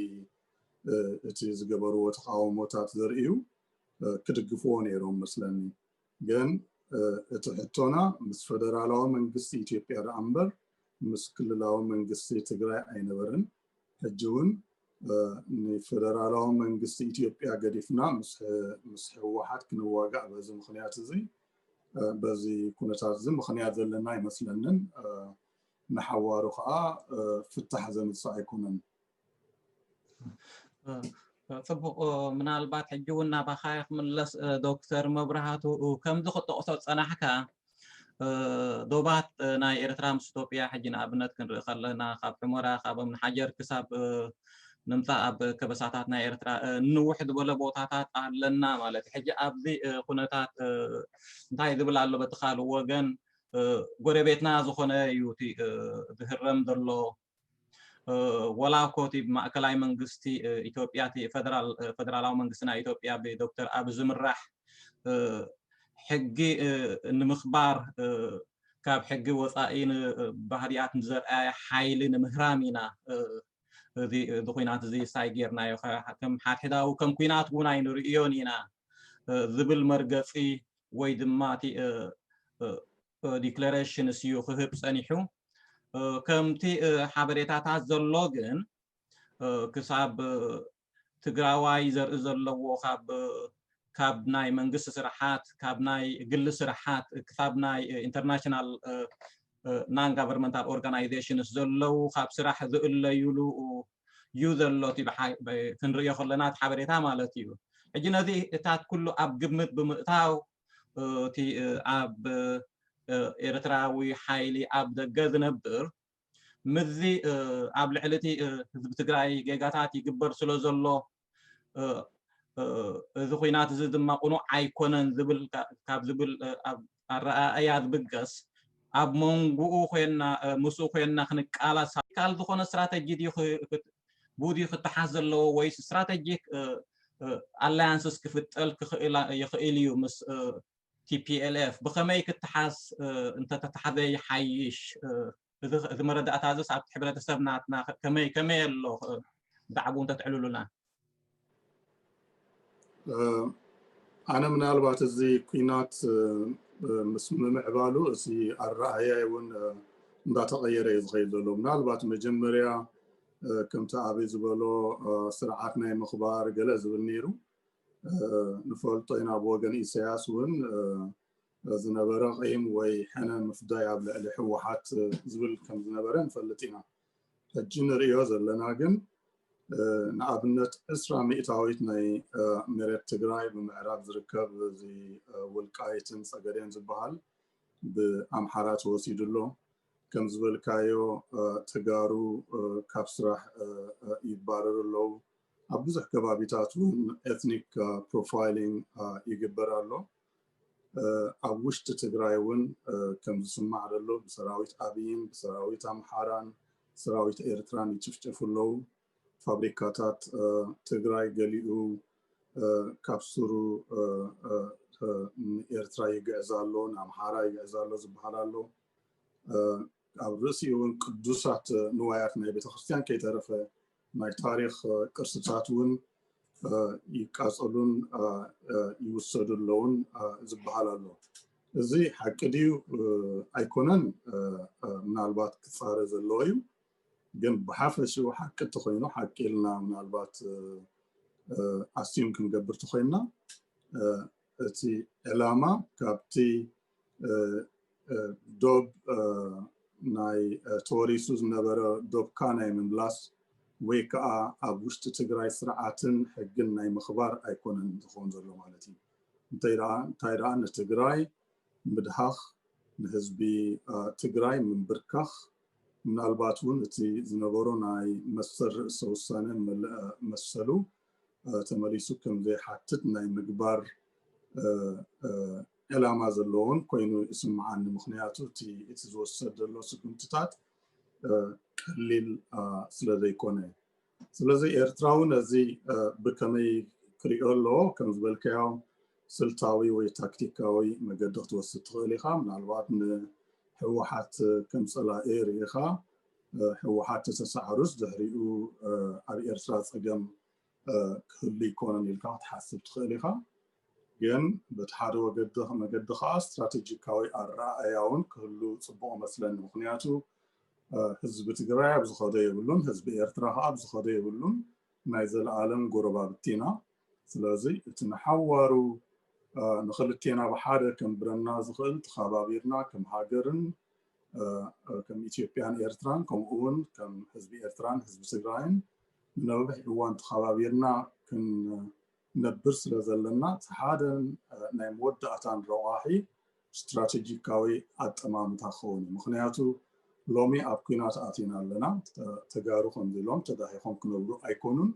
እቲ ዝገበርዎ ተቃውሞታት ዘርእዩ ክድግፍዎ ነይሮም መስለኒ ግን እቲ ሕቶና ምስ ፈደራላዊ መንግስቲ ኢትዮጵያ ደኣ እምበር ምስ ክልላዊ መንግስቲ ትግራይ ኣይነበርን ሕጂ እውን ንፈደራላዊ መንግስቲ ኢትዮጵያ ገዲፍና ምስ ህወሓት ክንዋጋእ በዚ ምክንያት እዚ በዚ ኩነታት እዚ ምክንያት ዘለና ኣይመስለንን ንሓዋሩ ከዓ ፍታሕ ዘምፅእ ኣይኮነን ፅቡቕ ምናልባት ሕጂ እውን ናባኻ ክምለስ ዶክተር መብራህቱ ከምዚ ክጠቕሶ ፀናሕካ ዶባት ናይ ኤርትራ ምስ ኢትዮጵያ ሕጂ ንኣብነት ክንርኢ ከለና ካብ ሑመራ ካብ እምንሓጀር ክሳብ ንምፃእ ኣብ ከበሳታት ናይ ኤርትራ ንውሕ ዝበለ ቦታታት ኣለና ማለት ሕጂ ኣብዚ ኩነታት እንታይ ዝብል ኣሎ በቲ ካልእ ወገን ጎረቤትና ዝኾነ እዩ እቲ ዝህረም ዘሎ ወላ እኮ እቲ ማእከላይ መንግስቲ ኢትዮጵያ እቲ ፈደራላዊ መንግስቲ ናይ ኢትዮጵያ ብዶክተር ኣብ ዝምራሕ ሕጊ ንምኽባር ካብ ሕጊ ወፃኢ ባህርያት ንዘርኣየ ሓይሊ ንምህራም ኢና እዚ ኩናት እዚ ሳይ ጌርናዮ ከም ሓድሕዳዊ ከም ኩናት እውን ኣይንርእዮን ኢና ዝብል መርገፂ ወይ ድማ እቲ ዲክለሬሽንስ እዩ ክህብ ፀኒሑ ከምቲ ሓበሬታታት ዘሎ ግን ክሳብ ትግራዋይ ዘርኢ ዘለዎ ካብ ካብ ናይ መንግስቲ ስራሓት ካብ ናይ ግሊ ስራሓት ክሳብ ናይ ኢንተርናሽናል ናን ጋቨርንመንታል ኦርጋናይዜሽንስ ዘለው ካብ ስራሕ ዝእለዩሉ እዩ ዘሎ እቲ ክንሪኦ ከለና እቲ ሓበሬታ ማለት እዩ ሕጂ ነዚታት ኩሉ ኣብ ግምት ብምእታው እቲ ኣብ ኤርትራዊ ሓይሊ ኣብ ደገ ዝነብር ምስዚ ኣብ ልዕሊ እቲ ህዝቢ ትግራይ ጌጋታት ይግበር ስለ ዘሎ እዚ ኩናት እዚ ድማ ቁኑዕ ኣይኮነን ዝብል ካብ ዝብል ኣረኣእያ ዝብገስ ኣብ መንጉኡ ኮይና ምስኡ ኮይና ክንቃላስ ካል ዝኾነ ስትራተጂ ድዩ ብኡ ድዩ ክተሓዝ ዘለዎ ወይስ ስትራተጂክ ኣላያንስስ ክፍጠል ይኽእል እዩ ምስ ቲፒኤልኤፍ ብኸመይ ክተሓዝ እንተተታሕዘ ይሓይሽ እዚ መረዳእታ እዚስ ኣብቲ ሕብረተሰብ ናትና ከመይ ከመይ ኣሎ ብዛዕባኡ እንተትዕልሉና ኣነ ምናልባት እዚ ኩናት ምስ ምምዕባሉ እዚ ኣረኣያይ እውን እንዳተቐየረ እዩ ዝኸይድ ዘሎ ምናልባት መጀመርያ ከምቲ ኣብይ ዝበሎ ስርዓት ናይ ምኽባር ገለ ዝብል ነይሩ ንፈልጦ ኢና ብወገን ኢሳያስ እውን ዝነበረ ቂም ወይ ሕነ ምፍዳይ ኣብ ልዕሊ ህወሓት ዝብል ከም ዝነበረ ንፈልጥ ኢና ሕጂ ንርእዮ ዘለና ግን ንኣብነት ዕስራ ሚእታዊት ናይ መሬት ትግራይ ብምዕራብ ዝርከብ እዚ ውልቃይትን ፀገዴን ዝበሃል ብኣምሓራ ተወሲዱ ኣሎ ከም ዝበልካዮ ተጋሩ ካብ ስራሕ ይባረሩ ኣለዉ ኣብ ብዙሕ ከባቢታት እውን ኤትኒክ ፕሮፋይሊንግ ይግበር ኣሎ ኣብ ውሽጢ ትግራይ እውን ከም ዝስማዕ ዘሎ ብሰራዊት ኣብይን ብሰራዊት ኣምሓራን ሰራዊት ኤርትራን ይጭፍጨፉ ኣለዉ። ፋብሪካታት ትግራይ ገሊኡ ካብ ሱሩ ንኤርትራ ይግዕዝ ኣሎ፣ ንኣምሓራ ይግዕዝ ኣሎ ዝበሃል ኣሎ። ኣብ ርእሲኡ እውን ቅዱሳት ንዋያት ናይ ቤተክርስትያን ከይተረፈ ናይ ታሪኽ ቅርስታት እውን ይቃፀሉን ይውሰዱ ኣለውን ዝበሃል ኣሎ እዚ ሓቂ ድዩ ኣይኮነን ምናልባት ክፃረ ዘለዎ እዩ ግን ብሓፈሽኡ ሓቂ እተኮይኑ ሓቂ ኢልና ምናልባት ኣስዩም ክንገብር ተኮይንና እቲ ዕላማ ካብቲ ዶብ ናይ ተወሪሱ ዝነበረ ዶብካ ናይ ምምላስ ወይ ከዓ ኣብ ውሽጢ ትግራይ ስርዓትን ሕግን ናይ ምኽባር ኣይኮነን ዝኸውን ዘሎ ማለት እዩ እንታይ ደኣ ንትግራይ ምድሃኽ ንህዝቢ ትግራይ ምንብርካኽ ምናልባት እውን እቲ ዝነበሮ ናይ መሰል ርእሰ ውሳነ መሰሉ ተመሊሱ ከምዘይሓትት ናይ ምግባር ዕላማ ዘለዎን ኮይኑ ይስምዓኒ ምክንያቱ እቲ ዝወሰድ ዘሎ ስጉምትታት ቀሊል ስለዘይኮነ ስለዚ ኤርትራ እውን እዚ ብከመይ ክሪኦ ኣለዎ ከም ዝበልካዮ ስልታዊ ወይ ታክቲካዊ መገዲ ክትወስድ ትኽእል ኢኻ ምናልባት ንህወሓት ከም ፀላኢ ርኢኻ ህወሓት ተተሳዕሩስ ድሕሪኡ ኣብ ኤርትራ ፀገም ክህሉ ኣይኮነን ኢልካ ክትሓስብ ትኽእል ኢኻ ግን በቲ ሓደ ወገዲ መገዲ ከዓ ስትራቴጂካዊ ኣረኣእያ እውን ክህሉ ፅቡቅ መስለኒ ምክንያቱ ህዝቢ ትግራይ ኣብ ዝኸዶ የብሉን ህዝቢ ኤርትራ ከዓ ኣብ ዝኸዶ የብሉን ናይ ዘለኣለም ጎረባብቲ ኢና ስለዚ እቲ ንሓዋሩ ንክልቴና ብሓደ ከንብረና ዝኽእል ተኸባቢርና ከም ሃገርን ከም ኢትዮጵያን ኤርትራን ከምኡ እውን ከም ህዝቢ ኤርትራን ህዝቢ ትግራይን ንነዊሕ እዋን ተኸባቢርና ክንነብር ስለ ዘለና እቲ ሓደን ናይ መወዳእታን ረቋሒ ስትራቴጂካዊ ኣጠማምታ ክኸውን እዩ ምክንያቱ ሎሚ ኣብ ኩናት ኣቲና ኣለና ተጋሩ ከምዚ ኢሎም ተዳሂኾም ክነብሩ ኣይኮኑን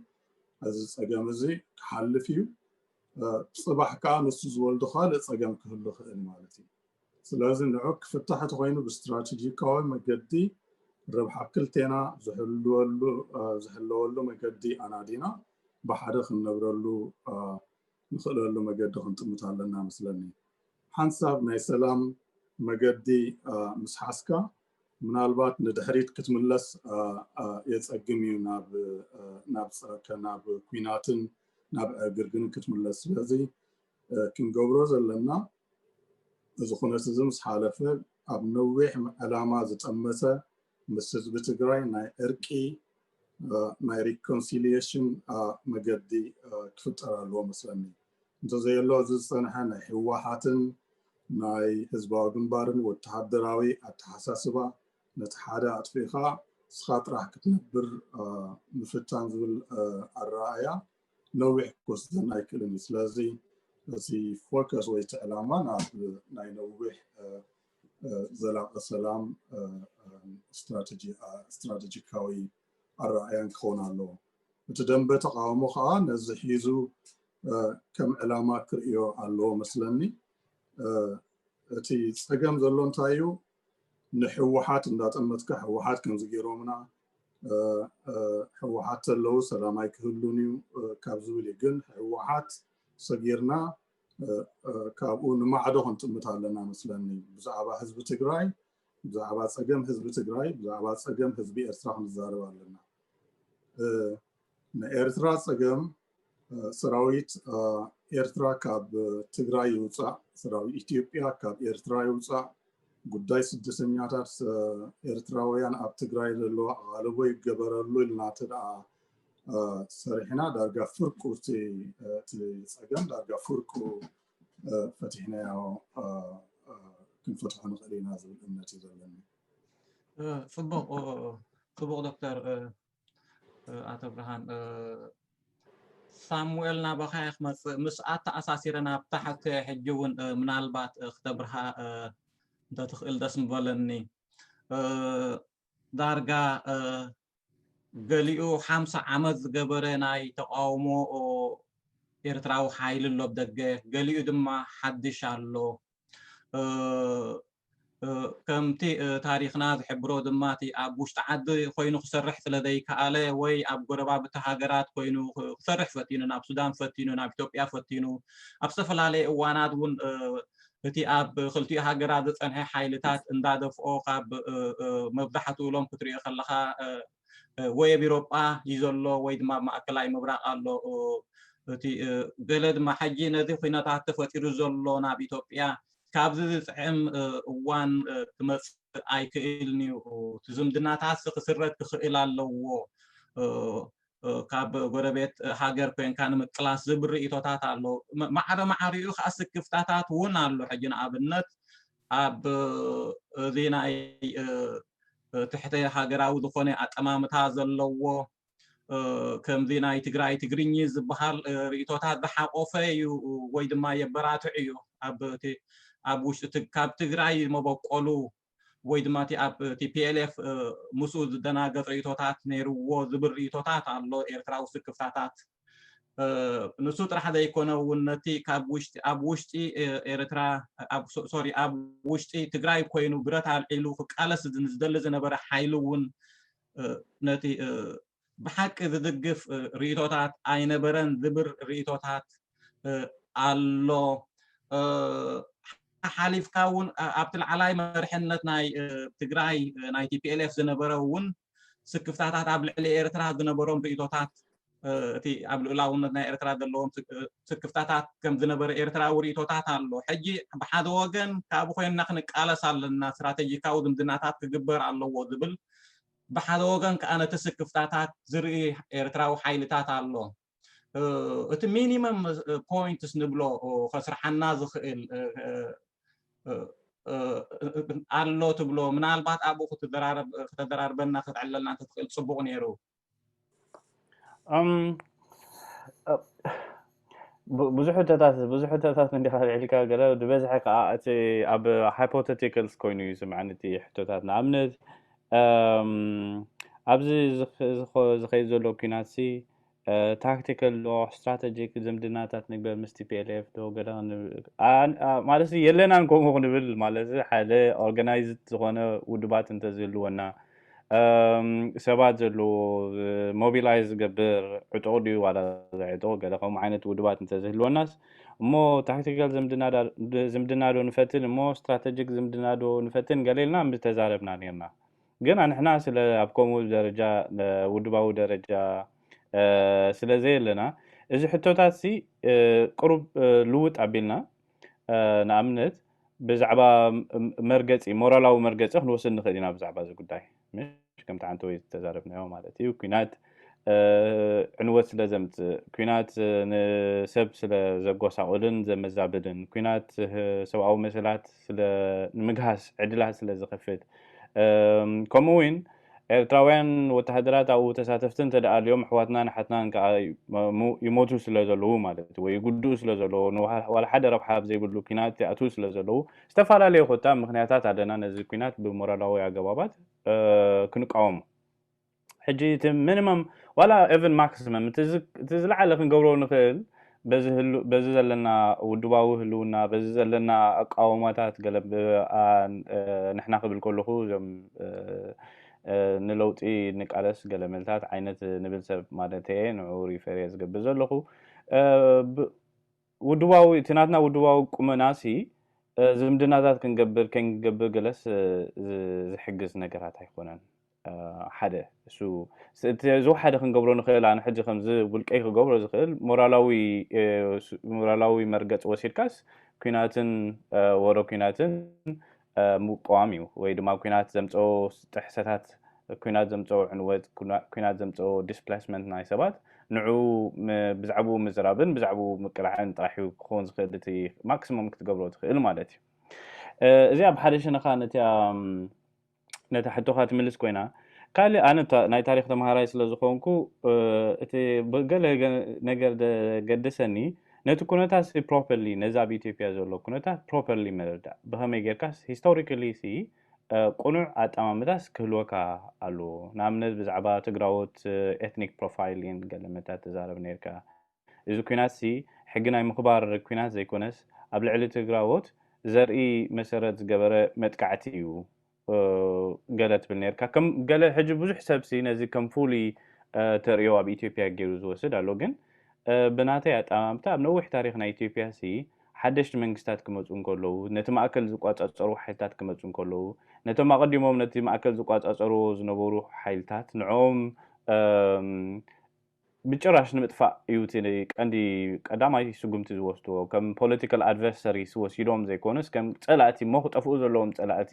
እዚ ፀገም እዚ ክሓልፍ እዩ ፅባሕ ከዓ ንሱ ዝወልዶ ካልእ ፀገም ክህሉ ክእል ማለት እዩ ስለዚ ንዑ ክፍታሕ ተኾይኑ ብስትራቴጂካዊ መገዲ ረብሓ ክልቴና ዝሕለወሉ መገዲ ኣናዲና ብሓደ ክንነብረሉ ንኽእለሉ መገዲ ክንጥምት ኣለና መስለኒ። ሓንሳብ ናይ ሰላም መገዲ ምስ ሓዝካ ምናልባት ንድሕሪት ክትምለስ የፀግም እዩ ናብ ናብ ኩናትን ናብ ዕግርግርን ክትምለስ ስለዚ ክንገብሮ ዘለና እዚ ኩነት እዚ ምስ ሓለፈ ኣብ ነዊሕ ዕላማ ዝጠመተ ምስ ህዝቢ ትግራይ ናይ ዕርቂ ናይ ሪኮንሲልየሽን መገዲ ክፍጠር ኣለዎ መስለኒ እንተዘየሎ እዚ ዝፀንሐ ናይ ህወሓትን ናይ ህዝባዊ ግንባርን ወተሃደራዊ ኣተሓሳስባ ነቲ ሓደ ኣጥፊእኻ ንስኻ ጥራሕ ክትነብር ምፍታን ዝብል ኣረኣእያ ነዊሕ ክወስደና ኣይክእልን እዩ ስለዚ እቲ ፎከስ ወይ እቲ ዕላማ ናብ ናይ ነዊሕ ዘላቂ ሰላም ስትራቴጂካዊ ኣረኣያን ክኸውን ኣለዎ እቲ ደንበ ተቃውሞ ከዓ ነዚ ሒዙ ከም ዕላማ ክርእዮ ኣለዎ መስለኒ እቲ ፀገም ዘሎ እንታይ እዩ ንሕወሓት እንዳጠመትካ ሕወሓት ከምዚ ገይሮምና ሕወሓት ተለው ሰላም ኣይክህሉን እዩ ካብ ዝብል እዩ ግን ሕወሓት ሰጊርና ካብኡ ንማዕዶ ክንጥምት ኣለና መስለኒ ብዛዕባ ህዝቢ ትግራይ ብዛዕባ ፀገም ህዝቢ ትግራይ ብዛዕባ ፀገም ህዝቢ ኤርትራ ክንዛረብ ኣለና ንኤርትራ ጸገም ሰራዊት ኤርትራ ካብ ትግራይ ይውፃእ፣ ሰራዊት ኢትዮጵያ ካብ ኤርትራ ይውፃእ፣ ጉዳይ ስደተኛታት ኤርትራውያን ኣብ ትግራይ ዘለዎ ኣቓልቦ ይገበረሉ ኢልና እንተደኣ ሰሪሕና ዳርጋ ፍርቁ እቲ ፀገም ዳርጋ ፍርቁ ፈቲሕናዮ ክንፈትሖ ንኽእል ኢና ዝብል እምነት እዩ ዘለኒ። ጽቡቕ ጽቡቕ ዶክተር ኣቶ ብርሃን ሳሙኤል ናባኻ እየ ክመፅእ ምስ ኣተኣሳሲረ ናብ ታሕቲ ሕጂ እውን ምናልባት ክተብርሃ እንተትኽእል ደስ ምበለኒ ዳርጋ ገሊኡ ሓምሳ ዓመት ዝገበረ ናይ ተቃውሞ ኤርትራዊ ሓይሊ ኣሎ ደገ ገሊኡ ድማ ሓድሽ ኣሎ ከምቲ ታሪኽና ዝሕብሮ ድማ እቲ ኣብ ውሽጢ ዓዲ ኮይኑ ክሰርሕ ስለ ዘይከኣለ ወይ ኣብ ጎረባብቲ ሃገራት ኮይኑ ክሰርሕ ፈቲኑ ናብ ሱዳን ፈቲኑ ናብ ኢትዮጵያ ፈቲኑ ኣብ ዝተፈላለየ እዋናት እውን እቲ ኣብ ክልቲኡ ሃገራት ዝፀንሐ ሓይልታት እንዳደፍኦ ካብ መብዛሕትኡ ሎም ክትሪኦ ከለካ ወይ ኣብ ኢሮጳ እዩ ዘሎ ወይ ድማ ኣብ ማእከላይ ምብራቕ ኣሎ እቲ ገለ ድማ ሕጂ ነዚ ኩነታት ተፈጢሩ ዘሎ ናብ ኢትዮጵያ ካብዚ ዝጥዕም እዋን ክመጽእ ኣይክእልን እዩ እቲ ዝምድናታትሲ ክስረት ክኽእል ኣለዎ ካብ ጎረቤት ሃገር ኮንካ ንምቅላስ ዝብል ርእቶታት ኣሎ ማዕረ ማዕሪኡ ከዓ ስክፍታታት እውን ኣሎ ሕጂ ንኣብነት ኣብ እዚ ናይ ትሕተ ሃገራዊ ዝኾነ ኣጠማምታ ዘለዎ ከምዚ ናይ ትግራይ ትግርኚ ዝበሃል ርእቶታት ዝሓቆፈ እዩ ወይ ድማ የበራትዕ እዩ ኣብ እቲ ኣብ ውሽጢ ካብ ትግራይ መበቆሉ ወይ ድማ እቲ ኣብ ቲፒኤልኤፍ ምስኡ ዝደናገፅ ርእቶታት ነይርዎ ዝብል ርእቶታት ኣሎ ኤርትራዊ ስክፍታታት ንሱ ጥራሕ ዘይኮነ እውን ነቲ ካብ ውሽጢ ኣብ ውሽጢ ኤርትራ ሶሪ ኣብ ውሽጢ ትግራይ ኮይኑ ብረት ኣልዒሉ ክቃለስ ዝደሊ ዝነበረ ሓይሊ እውን ነቲ ብሓቂ ዝድግፍ ርእቶታት ኣይነበረን ዝብር ርእቶታት ኣሎ ሓሊፍካ እውን ኣብቲ ላዕላይ መርሕነት ናይ ትግራይ ናይ ቲፒኤልኤፍ ዝነበረ እውን ስክፍታታት ኣብ ልዕሊ ኤርትራ ዝነበሮም ርእይቶታት እቲ ኣብ ልኡላውነት ናይ ኤርትራ ዘለዎም ስክፍታታት ከም ዝነበረ ኤርትራዊ ርእይቶታት ኣሎ ሕጂ ብሓደ ወገን ካብኡ ኮይንና ክንቃለስ ኣለና ስትራቴጂካዊ ዝምድናታት ክግበር ኣለዎ ዝብል ብሓደ ወገን ከዓ ነቲ ስክፍታታት ዝርኢ ኤርትራዊ ሓይልታት ኣሎ እቲ ሚኒመም ፖይንትስ ንብሎ ከስርሓና ዝኽእል ኣሎ ትብሎ ምናልባት ኣብኡ ክተደራርበና ክትዕለልና እንተትኽእል ፅቡቕ ነይሩ ብዙሕ ሕቶታት ብዙሕ ሕቶታት እንዲኻ ልዕልካ ገለ ዝበዝሐ ከዓ እቲ ኣብ ሃይፖቴቲካልስ ኮይኑ እዩ ዝስምዐኒ እቲ ሕቶታት ንኣብነት ኣብዚ ዝኸይድ ዘሎ ኩናት ታክቲካል ዶ ስትራተጂክ ዝምድናታት ንግበር ምስ ቲፒኤልኤፍ ዶ ገለ ክንብል ማለት የለናን ከምኡ ክንብል ማለት ሓደ ኦርጋናይዝድ ዝኾነ ውድባት እንተዝህልወና ሰባት ዘለዎ ሞቢላይዝ ዝገብር ዕጡቕ ድዩ ዋላ ዕጡቕ ገለ ከምኡ ዓይነት ውድባት እንተዝህልወናስ እሞ ታክቲካል ዝምድና ዶ ንፈትን እሞ ስትራተጂክ ዝምድና ዶ ንፈትን ገለ ኢልና ምተዛረብና ነርና ግና ንሕና ስለ ኣብ ከምኡ ደረጃ ውድባዊ ደረጃ ስለ ዘየለና እዚ ሕቶታትሲ ቅሩብ ልውጥ ኣቢልና ንኣብነት ብዛዕባ መርገጺ ሞራላዊ መርገጺ ክንወስድ ንኽእል ኢና ብዛዕባ እዚ ጉዳይ ምሽ ከምቲ ዓንተወይ ዝተዛረብናዮ ማለት እዩ ኩናት ዕንወት ስለ ዘምጽእ፣ ኲናት ንሰብ ስለ ዘጎሳቑልን ዘመዛብልን፣ ኲናት ሰብኣዊ መሰላት ስለ ንምግሃስ ዕድላት ስለ ዝኸፍት፣ ከምኡ ውን ኤርትራውያን ወተሃደራት ኣብኡ ተሳተፍቲ እንተ ደኣ ኣልዮም ኣሕዋትናን ኣሓትናን ከኣ ይሞቱ ስለ ዘለዉ ማለት እዩ ወይ ይጉድኡ ስለ ዘለዉ ንዋላ ሓደ ረብሓ ኣብ ዘይብሉ ኲናት ይኣትዉ ስለ ዘለዉ ዝተፈላለዩ ኮታ ምክንያታት ኣለና ነዚ ኲናት ብሞራላዊ ኣገባባት ክንቃወሙ ሕጂ እቲ minimum ዋላ even maximum እቲ እቲ ዝለዓለ ክንገብሮ ንኽእል በዚ ህሉ በዚ ዘለና ውድባዊ ህልውና በዚ ዘለና ኣቃውማታት ገለ ንሕና ክብል ከለኹ እዞም ንለውጢ ንቃለስ ገለ መልታት ዓይነት ንብል ሰብ ማለተየ ንዑ ሪፈር እየ ዝገብር ዘለኹ ውድባዊ እቲ ናትና ውድባዊ ቁመናሲ ዝምድናታት ክንገብር ከይንገብር ገለስ ዝሕግዝ ነገራት ኣይኮነን ሓደ እሱ እቲ ዝወሓደ ክንገብሮ ንኽእል ኣነ ሕጂ ከምዚ ውልቀይ ክገብሮ ዝኽእል ሞራላዊ ሞራላዊ መርገፂ ወሲድካስ ኩናትን ወረ ኩናትን ምቅዋም እዩ ወይ ድማ ኩናት ዘምፀኦ ጥሕሰታት ኩናት ዘምፀኦ ዕንወት ኩናት ዘምፀኦ ዲስፕላስመንት ናይ ሰባት ንዑ ብዛዕብኡ ምዝራብን ብዛዕብኡ ምቅላዕን ጥራሕ እዩ ክኸውን ዝኽእል እቲ ማክሲሞም ክትገብሮ ትኽእል ማለት እዩ እዚኣ ብሓደ ሸነኻ ነቲኣ ነታ ሕቶኻ ትምልስ ኮይና ካልእ ኣነ ናይ ታሪክ ተምሃራይ ስለ ዝኾንኩ እቲ ገለ ነገር ገድሰኒ ነቲ ኩነታትሲ ፕሮፐርሊ ነዚ ኣብ ኢትዮጵያ ዘሎ ኩነታት ፕሮፐርሊ ምርዳእ ብኸመይ ጌርካስ ሂስቶሪካሊሲ ቁኑዕ ኣጠማምታስ ክህልወካ ኣለዎ ንኣብነት ብዛዕባ ትግራዎት ኤትኒክ ፕሮፋይሊን ገለ መታ ትዛረብ ኔርካ እዚ ኩናትሲ ሕጊ ናይ ምኽባር ኩናት ዘይኮነስ ኣብ ልዕሊ ትግራዎት ዘርኢ መሰረት ዝገበረ መጥቃዕቲ እዩ ገለ ትብል ነርካ ከም ገለ ሕጂ ብዙሕ ሰብሲ ነዚ ከም ፍሉይ ተርእዮ ኣብ ኢትዮጵያ ገይሩ ዝወስድ ኣሎ ግን ብናተይ ኣጠማምታ ኣብ ነዊሕ ታሪክ ናይ ኢትዮጵያ ሲ ሓደሽቲ መንግስታት ክመፁ እንከለዉ ነቲ ማእከል ዝቋፃፀሩ ሓይልታት ክመፁ እንከለዉ ነቶም ኣቐዲሞም ነቲ ማእከል ዝቋፃፀርዎ ዝነበሩ ሓይልታት ንዕኦም ብጭራሽ ንምጥፋእ እዩ እቲ ቀንዲ ቀዳማይ ስጉምቲ ዝወስድዎ። ከም ፖለቲካል ኣድቨርሰሪስ ወሲዶም ዘይኮነስ ከም ፀላእቲ እሞ ክጠፍኡ ዘለዎም ፀላእቲ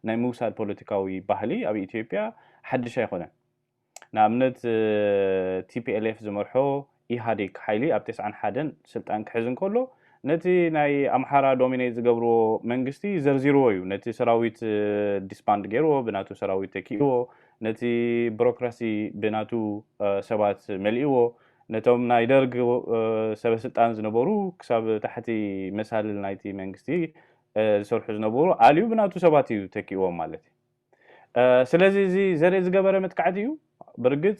ናይ ምውሳድ ፖለቲካዊ ባህሊ ኣብ ኢትዮጵያ ሓድሽ ኣይኮነን። ንኣብነት tplf ዝመርሖ ኢህኣዴግ ሓይሊ ኣብ ተስዓን ሓደን ስልጣን ክሕዝ እንከሎ ነቲ ናይ ኣምሓራ ዶሚኔት ዝገብርዎ መንግስቲ ዘርዚርዎ እዩ። ነቲ ሰራዊት ዲስባንድ ገይርዎ ብናቱ ሰራዊት ተኪእዎ። ነቲ ብሮክራሲ ብናቱ ሰባት መሊእዎ ነቶም ናይ ደርግ ሰበ ስልጣን ዝነበሩ ክሳብ ታሕቲ መሳልል ናይቲ መንግስቲ ዝሰርሑ ዝነበሩ ኣልዩ ብናቱ ሰባት እዩ ተኪእዎም ማለት እዩ ስለዚ እዚ ዘርኢ ዝገበረ መጥቃዕቲ እዩ ብርግፅ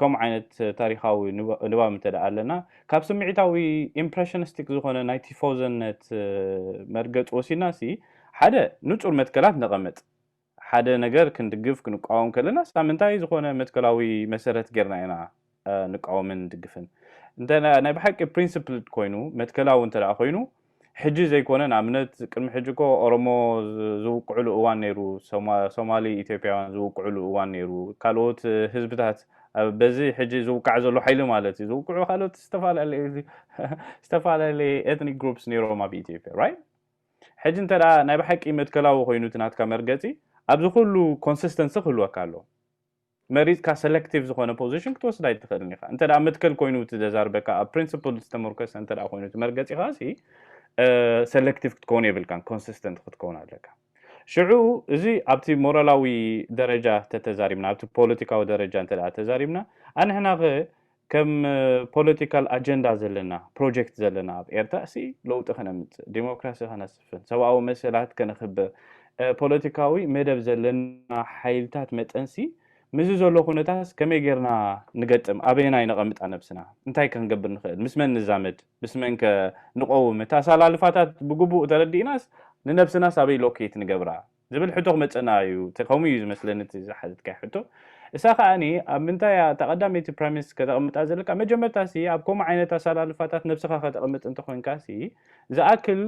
ከምኡ ዓይነት ታሪኻዊ ንባብ እንተ ኣለና ካብ ስምዒታዊ ኢምፕረሽንስቲክ ዝኾነ ናይ ቲፎዘነት መርገጽ ወሲድና ሲ ሓደ ንጹር መትከላት ነቐምጥ ሓደ ነገር ክንድግፍ ክንቃወም ከለና ስታ ምንታይ ዝኾነ መትከላዊ መሰረት ጌርና ኢና ንቃወምን ንድግፍን እንተ ናይ ብሓቂ ፕሪንስፕልድ ኮይኑ መትከላዊ እንተ ኮይኑ ሕጂ ዘይኮነ ንኣብነት ቅድሚ ሕጂ እኮ ኦሮሞ ዝውቅዕሉ እዋን ነይሩ ሶማሊ ኢትዮጵያውያን ዝውቅዕሉ እዋን ነይሩ ካልኦት ህዝብታት በዚ ሕጂ ዝውቃዕ ዘሎ ሓይሊ ማለት እዩ ዝውቅዑ ካልኦት ዝተፈላለየ ኤትኒክ ግሩፕስ ነይሮም ኣብ ኢትዮጵያ ራይት ሕጂ እንተ ናይ ብሓቂ መትከላዊ ኮይኑ እቲ ናትካ መርገፂ ኣብዚ ኩሉ ኮንሲስተንሲ ክህልወካ ኣለዎ መሪጽካ ሰለክቲቭ ዝኾነ ፖዚሽን ክትወስድ ኣይትኽእልን ኢኻ። እንተ መትከል ኮይኑ እቲ ዘዛርበካ ኣብ ፕሪንስፕል ዝተመርኮሰ እንተ ኮይኑ እቲ መርገጺኻ ሲ ሰለክቲቭ ክትከውን የብልካን፣ ኮንሲስተንት ክትከውን ኣለካ። ሽዑ እዚ ኣብቲ ሞራላዊ ደረጃ ተተዛሪብና ኣብቲ ፖለቲካዊ ደረጃ እንተ ተዛሪብና ኣንሕና ከም ፖለቲካል ኣጀንዳ ዘለና ፕሮጀክት ዘለና ኣብ ኤርትራ ሲ ለውጢ ከነምጽእ፣ ዴሞክራሲ ከነስፍን፣ ሰብኣዊ መሰላት ከነኽብር፣ ፖለቲካዊ መደብ ዘለና ሓይልታት መጠን ሲ ምስዚ ዘሎ ኩነታትስ ከመይ ጌርና ንገጥም፣ ኣበየናይ ነቐምጣ ነብስና፣ እንታይ ከ ክንገብር ንኽእል፣ ምስ መን ንዛመድ፣ ምስ መን ከ ንቐውም፣ እቲ ኣሰላልፋታት ብግቡእ ተረዲእናስ ንነብስናስ ኣበይ ሎኬት ንገብራ፣ ዝብል ሕቶ ክመጸና እዩ ከምኡ እዩ ዝመስለኒ እቲ ዝሓተትካዮ ሕቶ እሳ ከኣ ኣብ ምንታይ እያ እታ ቀዳመይቲ ፕረሚስ ከተቅምጣ ዘለካ መጀመርታ ሲ ኣብ ከምኡ ዓይነት ኣሳላልፋታት ነብስካ ከተቅምጥ እንተ ኮንካ ሲ ዝኣክል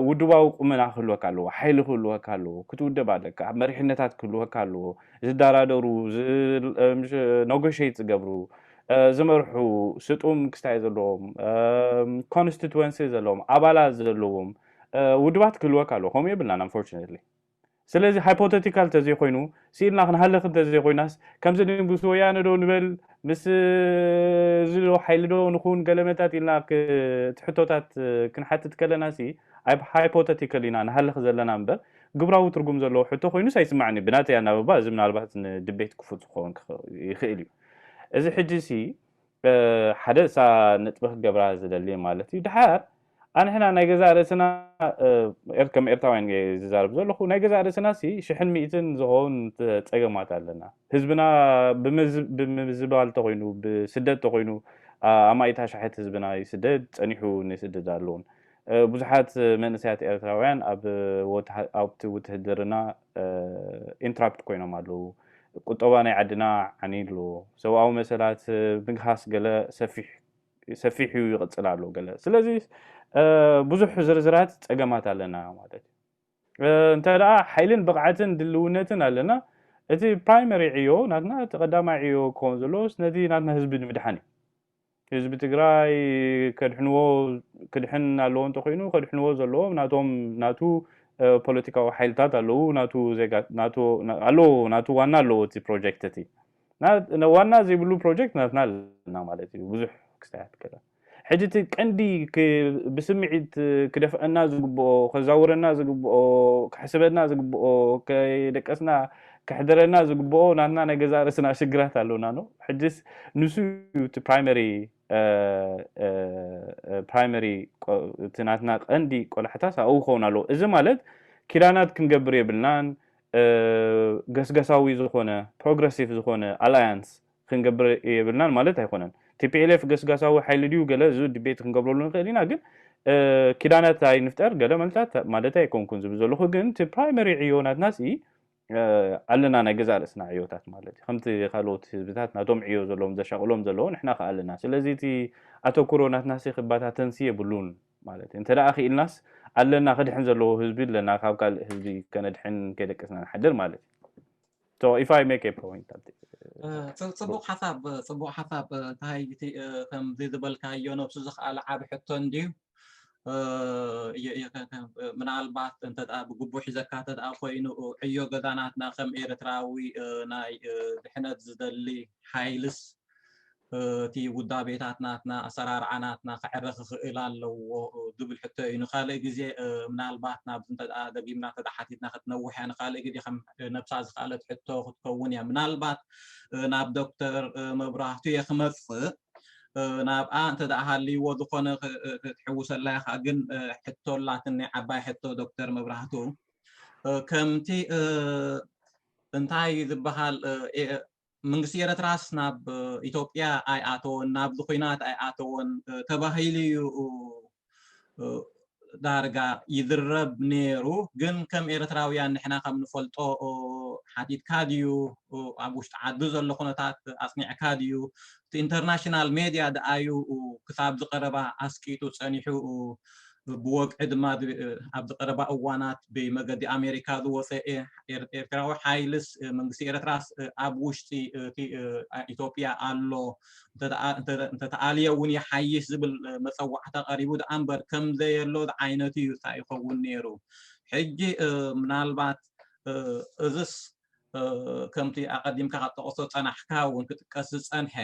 ውድባዊ ቁመና ክህልወካ ኣለዎ ሓይሊ ክህልወካ ኣለዎ ክትውደብ ኣለካ መሪሕነታት ክህልወካ ኣለዎ ዝደራደሩ ኖጎሸት ዝገብሩ ዝመርሑ ስጡም ክስታይ ዘለዎም ኮንስቲትወንሲ ዘለዎም ኣባላት ዘለዎም ውድባት ክህልወካ ኣለዎ ከምኡ የብልናን ኣንፎርችነትሊ ስለዚ ሃይፖተቲካል ተዘይኮይኑ ስኢልና ክንሃልኽ እንተዘይኮይናስ ከምዚ ምስ ወያነ ዶ ንበል ምስ እዚ ዶ ሓይሊ ዶ ንኹን ገለመታት ኢልና እቲ ሕቶታት ክንሓትት ከለና ሲ ኣብ ሃይፖተቲካል ኢና ንሃልኽ ዘለና እምበር ግብራዊ ትርጉም ዘለዎ ሕቶ ኮይኑስ ኣይስማዕኒ ብናተይ ኣናብባ እዚ ምናልባት ንድቤት ክፉት ክኸውን ይኽእል እዩ እዚ ሕጂ ሲ ሓደ እሳ ነጥቢ ክገብራ ዝደሊ ማለት እዩ ድሓር ኣንሕና ናይ ገዛእ ርእስና ከም ኤርትራውያን እየ ዝዛረብ ዘለኹ ናይ ገዛእ ርእስና ሲ ሽሕን ሚእትን ዝኸውን ጸገማት ኣለና ህዝብና ብምዝባል ተኾይኑ ብስደት ተኾይኑ ኣማኢት ኣሻሕት ህዝብና ይስደድ ጸኒሑ ንስደድ ኣለውን ብዙሓት መንእሰያት ኤርትራውያን ኣብቲ ውትህድርና ኢንትራፕት ኮይኖም ኣለዉ። ቁጠባ ናይ ዓድና ዓንዩ ኣሎ። ሰብኣዊ መሰላት ምግሃስ ገለ ሰፊሕ ዩ ይቕጽል ኣሎ ገለ። ስለዚ ብዙሕ ዝርዝራት ጸገማት ኣለና ማለት ዩ። እንተ ሓይልን ብቕዓትን ድልውነትን ኣለና እቲ ፕራይመሪ ዕዮ ናትና እቲ ቀዳማይ ዕዮ ክኸውን ዘለዎ ነቲ ናትና ህዝቢ ንምድሓን ዩ። ህዝቢ ትግራይ ከድሕንዎ ክድሕን ኣለዎ እንተኮይኑ ከድሕንዎ ዘለዎም ናቶም ናቱ ፖለቲካዊ ሓይልታት ኣለዉ ናቱ ዜጋ ናቱ ኣለዎ ናቱ ዋና ኣለዎ እቲ ፕሮጀክት እቲ ዋና ዘይብሉ ፕሮጀክት ናትና ኣለና ማለት እዩ ብዙሕ ክስታያት ከለ ሕጂ እቲ ቀንዲ ብስምዒት ክደፍአና ዝግብኦ ከዛውረና ዝግብኦ ክሕስበና ዝግብኦ ከይደቀስና ከሕድረና ዝግብኦ ናትና ናይ ገዛእ ርእስና ሽግራት ኣሎና ን ሕጅስ ንሱ እዩ እቲ ፕራይመሪ ፕራይመሪ እቲ ናትና ቀንዲ ቆላሕታስ ኣብኡ ክኸውን ኣለዎ እዚ ማለት ኪዳናት ክንገብር የብልናን ገስገሳዊ ዝኾነ ፕሮግረሲቭ ዝኾነ ኣላያንስ ክንገብር የብልናን ማለት ኣይኮነን። ቲፒኤልኤፍ ገስጋሳዊ ሓይሊ ድዩ ገለ እዚ ድቤት ክንገብረሉ ንኽእል ኢና ግን ኪዳናት ኣይንፍጠር ገለ መልታት ማለተይ ኣይኮንኩን ዝብል ዘለኹ ግን እቲ ፕራይመሪ ዕዮ ናትና ሲ ኣለና ናይ ገዛ ርእስና ዕዮታት ማለት እዩ ከምቲ ካልኦት ህዝብታት ናቶም ዕዮ ዘለዎም ዘሻቕሎም ዘለዎ ንሕና ከዓ ኣለና ስለዚ እቲ ኣተኩሮ ናትና ሲ ክባታተንሲ የብሉን ማለት እዩ እንተደኣ ክኢልናስ ኣለና ክድሕን ዘለዎ ህዝቢ ኣለና ካብ ካልእ ህዝቢ ከነድሕን ከይደቀስና ንሓድር ማለት እዩ ፅቡቅ ሓሳብ ፅቡቅ ሓሳብ እንታይ ከምዚ ዝበልካዮ ነብሱ ዝኸኣለ ዓብ ሕቶ እንድዩ ምናልባት እንተ ብግቡእ ሒዘካ እንተ ኮይኑ ዕዮ ገዛናትና ከም ኤርትራዊ ናይ ድሕነት ዝደሊ ሓይልስ እቲ ውዳቤታት ናትና ኣሰራርዓ ናትና ክዕረ ክኽእል ኣለዎ ዝብል ሕቶ እዩ ንካልእ ግዜ ምናልባት ናብዚ እንተ ደጊምና እንተ ሓቲትና ክትነውሕ እያ ንካልእ ግዜ ከም ነብሳ ዝካለት ሕቶ ክትከውን እያ ምናልባት ናብ ዶክተር መብራህቱ እየ ክመፅእ ናብኣ እንተ ሃልይዎ ዝኾነ ክትሕውሰላ ኢኻ ግን ሕቶ ኣላትኒ ዓባይ ሕቶ ዶክተር መብራህቱ ከምቲ እንታይ ዝበሃል መንግስቲ ኤረትራስ ናብ ኢትዮጵያ ኣይኣተወን ናብዚ ኩናት ኣይኣተወን ተባሂሉዩ ዳርጋ ይዝረብ ኔሩ ግን ከም ኤረትራውያን ንሕና ከም ንፈልጦ ሓቲትካ ድዩ ኣብ ውሽጢ ዓዱ ዘሎ ኩነታት ኣጽኒዕካ ድዩ እቲ ኢንተርናሽናል ሜድያ ደኣ'ዩ ክሳብ'ዚ ቀረባ ኣስቂጡ ጸኒሑ፣ ብወግዒ ድማ ኣብ'ዚ ቀረባ እዋናት ብመገዲ ኣሜሪካ ዝወጸ ኤርትራዊ ሓይልስ መንግስቲ ኤርትራስ ኣብ ውሽጢ ኢትዮጵያ ኣሎ፣ እንተተኣልየ'ውን ይሓይሽ ዝብል መጸዋዕታ ቀሪቡ ደኣ'ምበር ከምዘየሎ ዝዓይነቱ'ዩ ይኸውን ነይሩ። ሕጂ ምናልባት እዝስ ከምቲ ኣቐዲምካ ካብ ጠቐሶ ፀናሕካ እውን ክጥቀስ ዝፀንሐ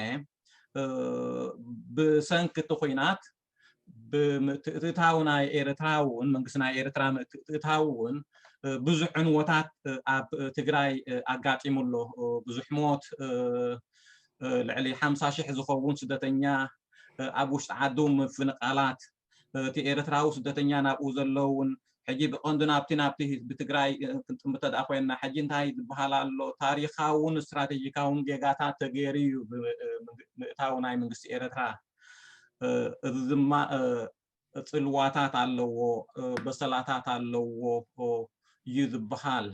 ብሰንኪ እቲ ኩናት ብምትእትታው ናይ ኤርትራ እውን መንግስቲ ናይ ኤርትራ ምትእትታው እውን ብዙሕ ዕንወታት ኣብ ትግራይ ኣጋጢሙ ኣሎ ብዙሕ ሞት ልዕሊ ሓምሳ ሽሕ ዝኸውን ስደተኛ ኣብ ውሽጢ ዓዱ ምፍንቓላት እቲ ኤርትራዊ ስደተኛ ናብኡ ዘሎ እውን ሕጂ ብቀንዱ ናብቲ ናብቲ ህዝቢ ትግራይ ክንጥምት እንተድኣ ኮይና ሕጂ እንታይ ዝበሃል ኣሎ ታሪኻውን ስትራቴጂካውን ጌጋታት ተገይሩ እዩ ብምእታው ናይ መንግስቲ ኤርትራ እዚ ድማ ፅልዋታት ኣለዎ በሰላታት ኣለዎ እዩ ዝበሃል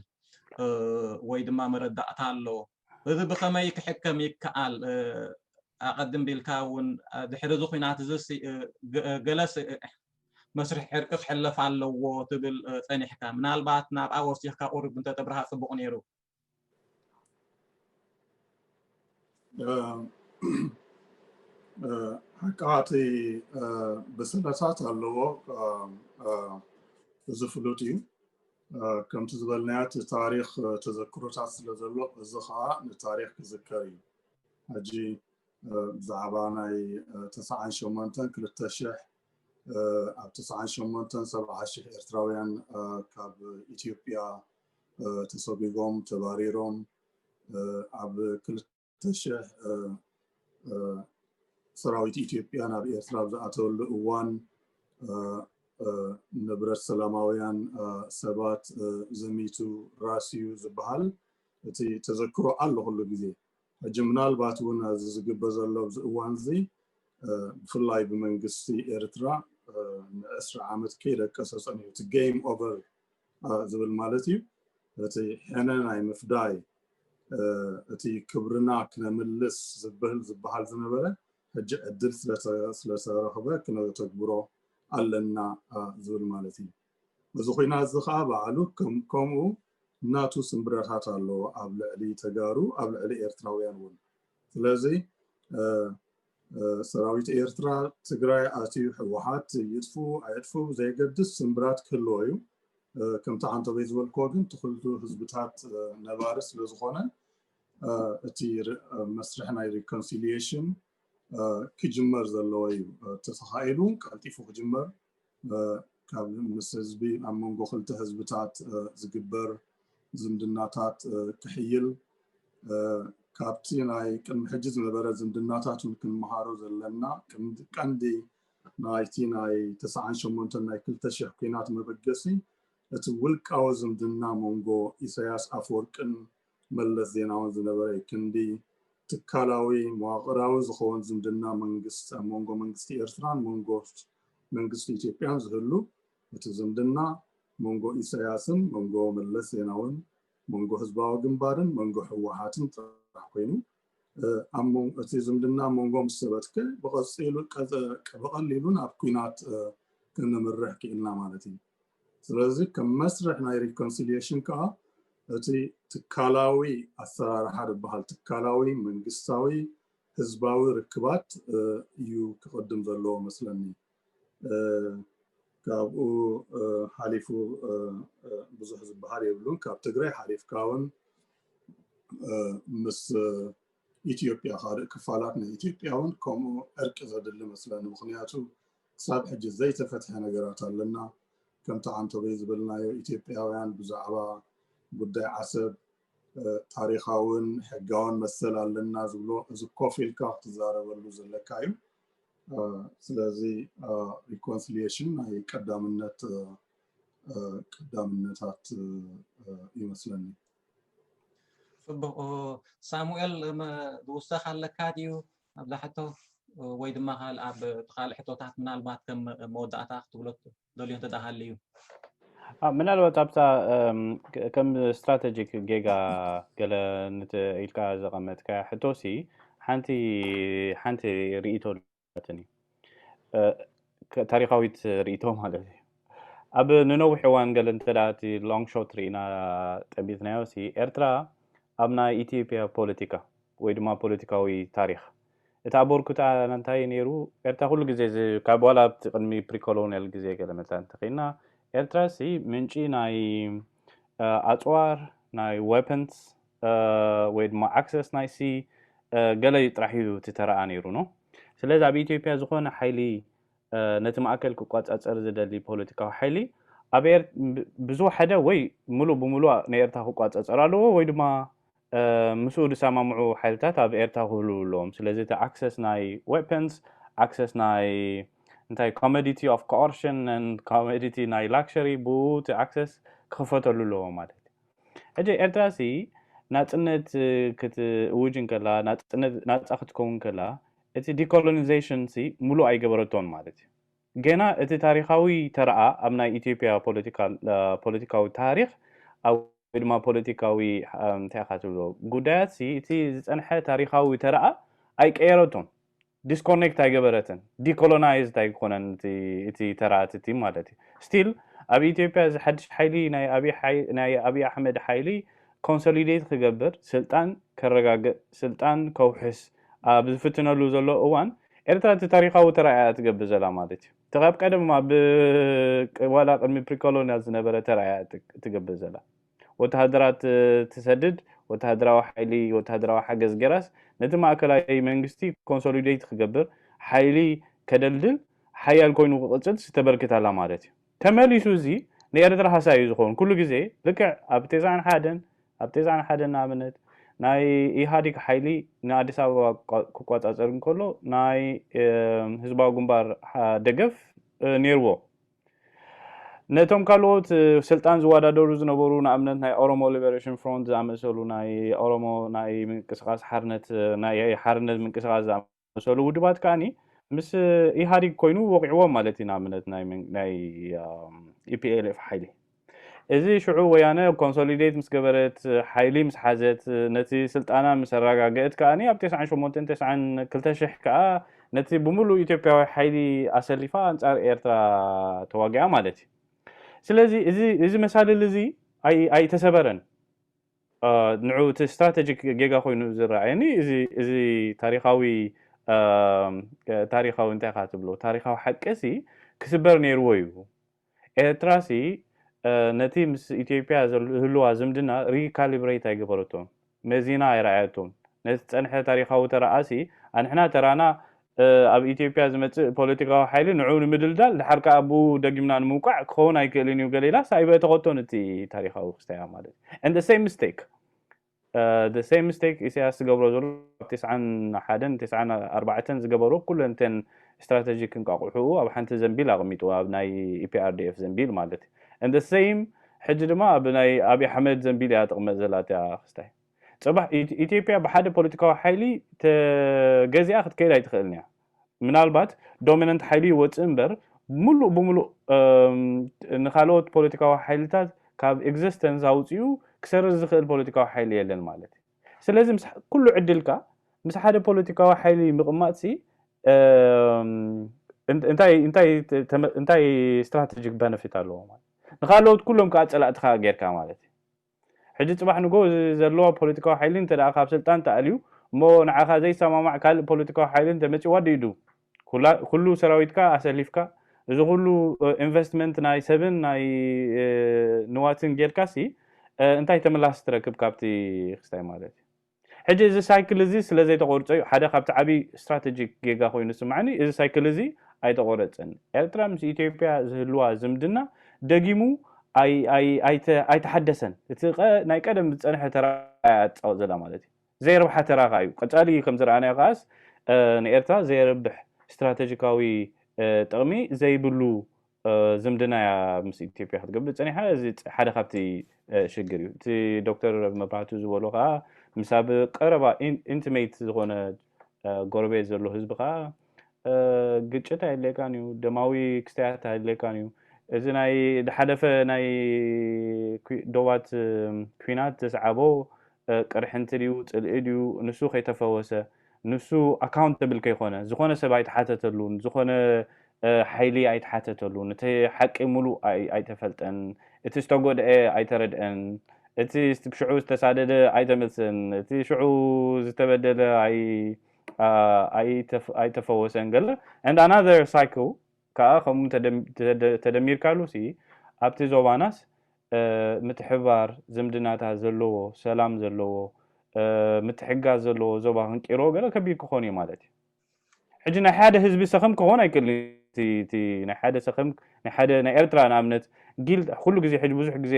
ወይ ድማ መረዳእታ ኣሎ እዚ ብኸመይ ክሕከም ይከኣል ኣቐድም ቢልካ እውን ድሕሪ እዚ ኹናት እዝስ ገለ መስርሕ ዕርቂ ክሕለፍ ኣለዎ ትብል ጸኒሕካ። ምናልባት ናብኣ ወሲኽካ ቁሩብ እንተተብርሃ ጽቡቕ ነይሩ። ሕቃ እቲ ብስለታት ኣለዎ እዚ ፍሉጥ እዩ ከምቲ ዝበልናዮ እቲ ታሪክ ተዘክሮታት ስለ ዘሎ እዚ ከዓ ንታሪክ ክዝከር እዩ ሕጂ ብዛዕባ ናይ ትስዓን ሸሞንተን ክልተ ሽሕ ኣብ ትስዓን ሸሞንተን ሰብዓ ሽሕ ኤርትራውያን ካብ ኢትዮጵያ ተሰጉጎም ተባሪሮም ኣብ ክልተ ሽሕ ሰራዊት ኢትዮጵያ ናብ ኤርትራ ኣብ ዝኣተወሉ እዋን ንብረት ሰላማውያን ሰባት ዘሚቱ ራስዩ ዝበሃል እቲ ተዘክሮ ኣሎ ኩሉ ግዜ ሕጂ ምናልባት እውን ኣዚ ዝግበ ዘሎ ኣብዚ እዋን እዚ ብፍላይ ብመንግስቲ ኤርትራ ንዕስራ ዓመት ከይደቀሰ ጸኒሑ እቲ ገይም ኦቨር ዝብል ማለት እዩ እቲ ሕነ ናይ ምፍዳይ እቲ ክብርና ክነምልስ ዝብል ዝበሃል ዝነበረ ሕጂ ዕድል ስለተረኽበ ክነተግብሮ ኣለና ዝብል ማለት እዩ እዚ ኹናት እዚ ኸኣ ባዕሉ ከምኡ ናቱ ስምብረታት ኣለዎ ኣብ ልዕሊ ተጋሩ ኣብ ልዕሊ ኤርትራውያን ውን ስለዚ ሰራዊት ኤርትራ ትግራይ ኣትዩ ሕወሓት ይጥፍኡ ኣየጥፍኡ ብዘየገድስ ስምብራት ክህልዎ እዩ ከምቲ ዓንተበይ ዝበልክዎ ግን ትኽልቱ ህዝብታት ነባሪ ስለ ዝኾነ እቲ መስርሕ ናይ ሪኮንሲሊሽን ክጅመር ዘለዎ እዩ ተተኻኢሉ ቀልጢፉ ክጅመር ካብ ምስ ህዝቢ ኣብ መንጎ ክልተ ህዝብታት ዝግበር ዝምድናታት ክሕይል ካብቲ ናይ ቅድሚ ሕጂ ዝነበረ ዝምድናታት እውን ክንምሃሮ ዘለና ቀንዲ ናይቲ ናይ ተስዓን ሸሞንተን ናይ ክልተ ሽሕ ኩናት መበገሲ እቲ ውልቃዊ ዝምድና መንጎ ኢሳያስ ኣፈወርቅን መለስ ዜናውን ዝነበረ ክንዲ ትካላዊ መዋቕራዊ ዝኸውን ዝምድና መንግስት ኣብ መንጎ መንግስቲ ኤርትራን መንጎ መንግስቲ ኢትዮጵያን ዝህሉ እቲ ዝምድና መንጎ ኢሳያስን መንጎ መለስ ዜናውን መንጎ ህዝባዊ ግንባርን መንጎ ህወሓትን ጥራሕ ኮይኑ እቲ ዝምድና ኣብ መንጎ ምስ ሰበትከ ብቐሊሉ ናብ ኩናት ክንምርሕ ክኢልና ማለት እዩ። ስለዚ ከም መስርሕ ናይ ሪኮንሲልየሽን ከዓ እቲ ትካላዊ ኣሰራርሓ ዝበሃል ትካላዊ መንግስታዊ ህዝባዊ ርክባት እዩ ክቕድም ዘለዎ መስለኒ። ካብኡ ሓሊፉ ብዙሕ ዝበሃል የብሉን ካብ ትግራይ ሓሊፍካ እውን ምስ ኢትዮጵያ ካልእ ክፋላት ናይ ኢትዮጵያ እውን ከምኡ ዕርቂ ዘድሊ መስለኒ ምክንያቱ ክሳብ ሕጂ ዘይተፈትሐ ነገራት ኣለና ከምቲ ዓንተበይ ዝበልናዮ ኢትዮጵያውያን ብዛዕባ ጉዳይ ዓሰብ ታሪካውን ሕጋውን መሰል ኣለና ዝብሎ እዚ ኮፍ ኢልካ ክትዛረበሉ ዘለካ እዩ ስለዚ ሪኮንስሊሽን ናይ ቀዳምነት ቀዳምነታት ይመስለኒ ፅቡቅ ሳሙኤል ዝውሰኽ ኣለካ ድዩ ኣብዛ ሕቶ ወይ ድማ ኣብ ካልእ ሕቶታት ምናልባት ከም መወዳእታ ክትብሎ ደልዮ እንተ ሃልዩ። ምናልባት ኣብታ ከም ስትራተጂክ ጌጋ ገለ ኢልካ ዘቐመጥካያ ሕቶሲ ሓንቲ ሓንቲ ርእይቶ ኣለትኒ ታሪኻዊት ርእይቶ ማለት እዩ ኣብ ንነዊሕ እዋን ገለ እንተ እቲ ሎንግ ሾት ርኢና ጠቢትናዮ ሲ ኤርትራ ኣብ ናይ ኢትዮጵያ ፖለቲካ ወይ ድማ ፖለቲካዊ ታሪክ እቲ ኣበርኩትኣ ኣንታይ ነይሩ ኤርትራ ኩሉ ግዜ እዚ ካብ ዋላ ኣብቲ ቅድሚ ፕሪኮሎንያል ግዜ ገለ መታን እንተኺድና ኤርትራሲ ምንጪ ናይ ኣጽዋር ናይ ወፐንስ ወይ ድማ ኣክሰስ ናይ ሲ ገለ ጥራሕ እዩ እቲ ተራኣ ነይሩ ኖ ስለዚ ኣብ ኢትዮጵያ ዝኾነ ሓይሊ ነቲ ማእከል ክቆጻጸር ዝደሊ ፖለቲካዊ ሓይሊ ኣብ ብዝወሓደ ወይ ምሉእ ብምሉእ ንኤርትራ ክቋጸጸር ኣለዎ ወይ ድማ ምስኡ ዝሰማምዑ ሓይልታት ኣብ ኤርትራ ክህልዉ ኣለዎም። ስለዚ እቲ ኣክሰስ ናይ ወፐንስ፣ ኣክሰስ ናይ እንታይ ኮመዲቲ ኦፍ ኮኦርሽን ኣንድ ኮመዲቲ ናይ ላክሸሪ ብኡ እቲ ኣክሰስ ክኽፈተሉ ኣለዎ ማለት እዩ። ሕጂ ኤርትራሲ ናጽነት ክትእውጅ እንከላ ናጽነት ናጻ ክትከውን ከላ እቲ ዲኮሎኒዜሽንሲ ምሉእ ኣይገበረቶን ማለት እዩ። ገና እቲ ታሪኻዊ ተራኣ ኣብ ናይ ኢትዮጵያ ፖለቲካዊ ታሪኽ ወይ ድማ ፖለቲካዊ እንታይ ኢኻ ትብሎ ጉዳያትሲ እቲ ዝጸንሐ ታሪኻዊ ተራኣ ኣይቀየረቶን፣ ዲስኮርኔክት ኣይገበረትን፣ ዲኮሎናይዝድ ኣይኮነን እቲ ተራ እቲ ማለት እዩ። ስቲል ኣብ ኢትዮጵያ እዚ ሓድሽ ሓይሊ ናይ ኣብይ ኣሕመድ ሓይሊ ኮንሶሊዴት ክገብር ስልጣን ከረጋግእ ስልጣን ከውሕስ ኣብ ዝፍትነሉ ዘሎ እዋን፣ ኤርትራ እቲ ታሪኻዊ ተራኣ እያ ትገብር ዘላ ማለት እዩ። እቲ ካብ ቀደም ኣብ ዋላ ቅድሚ ፕሪኮሎንያል ዝነበረ ተራኣ እያ ትገብር ዘላ። ወተሃደራት ትሰድድ፣ ወተሃደራዊ ሓይሊ ወተሃደራዊ ሓገዝ ጌራስ ነቲ ማእከላይ መንግስቲ ኮንሶሊደይት ክገብር፣ ሓይሊ ከደልድል፣ ሓያል ኮይኑ ክቕጽልስ ተበርክት ኣላ ማለት እዩ። ተመሊሱ እዚ ንኤርትራ ሃሳይ እዩ ዝኸውን ኩሉ ግዜ ልክዕ ኣብ ቴስዓን ሓደን ኣብ ቴስዓን ሓደን ንኣብነት ናይ ኢሃዲግ ሓይሊ ንኣዲስ ኣበባ ክቋጻጸር እንከሎ ናይ ህዝባዊ ግንባር ደገፍ ነይርዎ ነቶም ካልኦት ስልጣን ዝወዳደሩ ዝነበሩ ንኣብነት ናይ ኦሮሞ ሊበሬሽን ፍሮንት ዝኣመሰሉ ናይ ኦሮሞ ናይ ምንቅስቃስ ሓርነት ናይ ሓርነት ምንቅስቃስ ዝኣመሰሉ ውድባት ከኣኒ ምስ ኢህኣዲግ ኮይኑ ወቂዕዎም ማለት እዩ ንኣብነት ናይ ኢፒኤልኤፍ ሓይሊ እዚ ሽዑ ወያነ ኮንሶሊዴት ምስ ገበረት ሓይሊ ምስ ሓዘት ነቲ ስልጣና ምስ ኣረጋገእት ከዓኒ ኣብ 98 92 ከዓ ነቲ ብምሉእ ኢትዮጵያዊ ሓይሊ ኣሰሊፋ ኣንጻር ኤርትራ ተዋጊኣ ማለት እዩ ስለዚ እዚ መሳልል እዚ ኣይተሰበረን ንዑ እቲ ስትራተጂክ ጌጋ ኮይኑ ዝረኣየኒ እዚ ታሪኻዊ ታሪኻዊ እንታይ ኢኻ ትብሎ ታሪኻዊ ሓቂሲ ክስበር ነይርዎ እዩ ኤርትራሲ ነቲ ምስ ኢትዮጵያ ዝህልዋ ዝምድና ሪካሊብሬት ኣይገበረቶን መዚና ኣይረኣየቶን ነቲ ዝጸንሐ ታሪኻዊ ተራኣሲ ኣንሕና ተራና ኣብ ኢትዮጵያ ዝመጽእ ፖለቲካዊ ሓይሊ ንዕኡ ንምድልዳል ድሓር ከኣ ብኡ ደጊምና ንምውቃዕ ክኸውን ኣይክእልን እዩ ገለ ኢላስ ኣይበእተኸቶ ንቲ ታሪኻዊ ክስታያ ማለት እዩ and the same mistake the same mistake ኢሳያስ ዝገብሮ ዘሎ ኣብ ቴስዓን ሓደን ቴስዓን ኣርባዕተን ዝገበሮ ኩለን እተን ስትራተጂክ እንቃቑሑኡ ኣብ ሓንቲ ዘንቢል ኣቕሚጡ ኣብ ናይ ኢፒኣርዲኤፍ ዘንቢል ማለት እዩ and the same ሕጂ ድማ ኣብ ናይ ኣብዪ ኣሕመድ ዘንቢል እያ ጥቕመጥ ዘላ እቲኣ ክስታይ ጽባሕ ኢትዮጵያ ብሓደ ፖለቲካዊ ሓይሊ ተገዚኣ ክትከይድ ኣይትኽእልን እያ። ምናልባት ዶሚናንት ሓይሊ ይወጽእ እምበር ሙሉእ ብሙሉእ ንካልኦት ፖለቲካዊ ሓይልታት ካብ ኤግዚስተንስ ኣውጺኡ ክሰርዝ ዝኽእል ፖለቲካዊ ሓይሊ የለን ማለት እዩ። ስለዚ ምስ ኩሉ ዕድልካ ምስ ሓደ ፖለቲካዊ ሓይሊ ምቕማጥሲ እንታይ እንታይ እንታይ ስትራተጂክ በነፊት ኣለዎ ማለት ንካልኦት ኩሎም ከኣ ጸላእትኻ ጌርካ ማለት እዩ። ሕጂ ጽባሕ ንግሆ እዚ ዘለዋ ፖለቲካዊ ሓይሊ እንተደኣ ካብ ስልጣን ተኣልዩ እሞ ንዓኻ ዘይሰማማዕ ካልእ ፖለቲካዊ ሓይሊ እንተመጺዋ ድዩዱ ኩላ ኩሉ ሰራዊትካ ኣሰሊፍካ እዚ ኩሉ ኢንቨስትመንት ናይ ሰብን ናይ ንዋትን ጌርካሲ እንታይ ተምላስ ትረክብ ካብቲ ክስታይ ማለት እዩ። ሕጂ እዚ ሳይክል እዚ ስለ ዘይተቆርጾ እዩ ሓደ ካብቲ ዓቢ ስትራተጂክ ጌጋ ኮይኑ ዝስማዓኒ እዚ ሳይክል እዚ ኣይተቆረጸን ኤርትራ ምስ ኢትዮጵያ ዝህልዋ ዝምድና ደጊሙ ኣይ ኣይ ኣይተ ኣይተሓደሰን እቲ ቀ ናይ ቀደም ዝጸንሐ ተራ እያ ትጻወት ዘላ ማለት እዩ ዘየርብሓ ተራ ከኣ እዩ ቀጻሊ ከም ዝረኣናዮ ከኣስ ንኤርትራ ዘየርብሕ ስትራተጂካዊ ጥቅሚ ዘይብሉ ዝምድናያ ምስ ኢትዮጵያ ክትገብር ፀኒሓ እዚ ሓደ ካብቲ ሽግር እዩ እቲ ዶክተር መብራህቱ ዝበሎ ከዓ ምስ ኣብ ቀረባ ኢንቲሜት ዝኾነ ጎረቤት ዘሎ ህዝቢ ከዓ ግጭት ኣይድልየካን እዩ ደማዊ ክስተያት ኣይድልየካን እዩ እዚ ናይ ዝሓለፈ ናይ ዶባት ኩናት ዘስዓቦ ቅርሕንቲ ድዩ ጽልኢ ድዩ ንሱ ከይተፈወሰ ንሱ ኣካውንተብል ከይኮነ ዝኾነ ሰብ ኣይትሓተተሉ ንዝኾነ ሓይሊ ኣይትሓተተሉ እቲ ሓቂ ሙሉእ ኣይተፈልጠን እቲ ዝተጎድኤ ኣይተረድኤን እቲ ሽዑ ዝተሳደደ ኣይተመልሰን እቲ ሽዑ ዝተበደለ ኣይተፈወሰን ገለ and another cycle ከኣ ከምኡ እንተ ተደሚርካሉሲ ኣብቲ ዞባናስ ምትሕብባር ዝምድናታት ዘለዎ ሰላም ዘለዎ ምትሕግጋዝ ዘለዎ ዞባ ክንቂሮ ገለ ከቢድ ክኾን ኢዩ ማለት ኢዩ። ሕጂ ናይ ሓደ ህዝቢ ሰኸም ክኾን ኣይክእልን ኢዩ እቲ እቲ ናይ ሓደ ሰኸም ናይ ሓደ ናይ ኤርትራ ንኣብነት ጊል ኩሉ ግዜ ሕጂ ብዙሕ ግዜ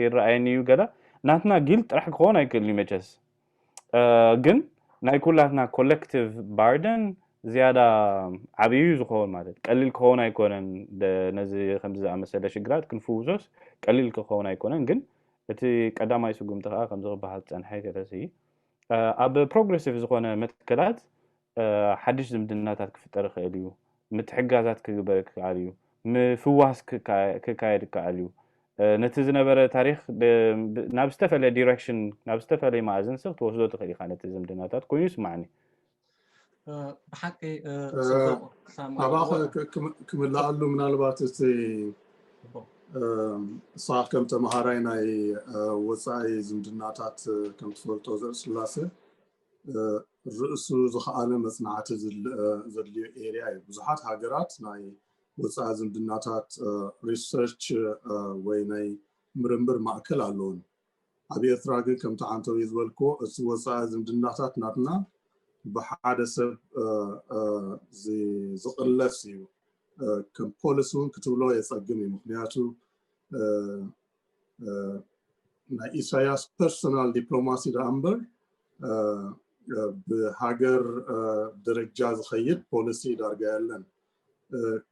ይረኣየኒ ኢዩ ገለ ናትና ጊል ጥራሕ ክኾን ኣይክእልን ኢዩ መቸስ ግን ናይ ኩላትና ኮለክቲቭ ባርደን ዝያዳ ዓብዩ ዝኸውን ማለት ቀሊል ክኸውን ኣይኮነን ነዚ ከምዚ ዝኣመሰለ ሽግራት ክንፍውሶስ ቀሊል ክኸውን ኣይኮነን ግን እቲ ቀዳማይ ስጉምቲ ከዓ ከምዚ ክበሃል ዝፀንሐ ከለሲ ኣብ ፕሮግረሲቭ ዝኾነ መትከላት ሓድሽ ዝምድናታት ክፍጠር ይኸእል እዩ። ምትሕግጋዛት ክግበር ክከኣል እዩ። ምፍዋስ ክካየድ ይከኣል እዩ። ነቲ ዝነበረ ታሪኽ ናብ ዝተፈለየ direction ናብ ዝተፈለየ መኣዝን ስቕ ትወስዶ ትኽእል ኢኻ ነቲ ዝምድናታት ኮይኑ ይስማዓኒ። ብሓቂ ጽቡቕ ሳማ ኣባኸ ኣለዎ። ክ- ክም- ክምልኣሉ ምናልባት እቲ ጽቡቕ። ንስኻ ከም ተምሃራይ ናይ እ፣ ወፃኢ ዝምድናታት እ፣ ከም ትፈልጦ ዘርእስላሴ ርእሱ ዝኸኣለ መፅናዕቲ ዘድልዮ ኤርያ እዩ። ብዙሓት ሃገራት ናይ ወፃኢ ዝምድናታት ሪሰርች ወይ ናይ ምርምር ማእከል ኣለውን። ኣብ ኤርትራ ግን ከምቲ ዓንተውይ ዝበልክዎ እቲ ወፃኢ ዝምድናታት ናትና ብሓደ ሰብ ዝቕለስ እዩ። ከም ፖሊሲ እውን ክትብሎ የፀግም እዩ። ምክንያቱ ናይ ኢሳያስ ፐርሶናል ዲፕሎማሲ ደኣ እምበር ብሃገር ደረጃ ዝኸይድ ፖሊሲ ዳርጋ የለን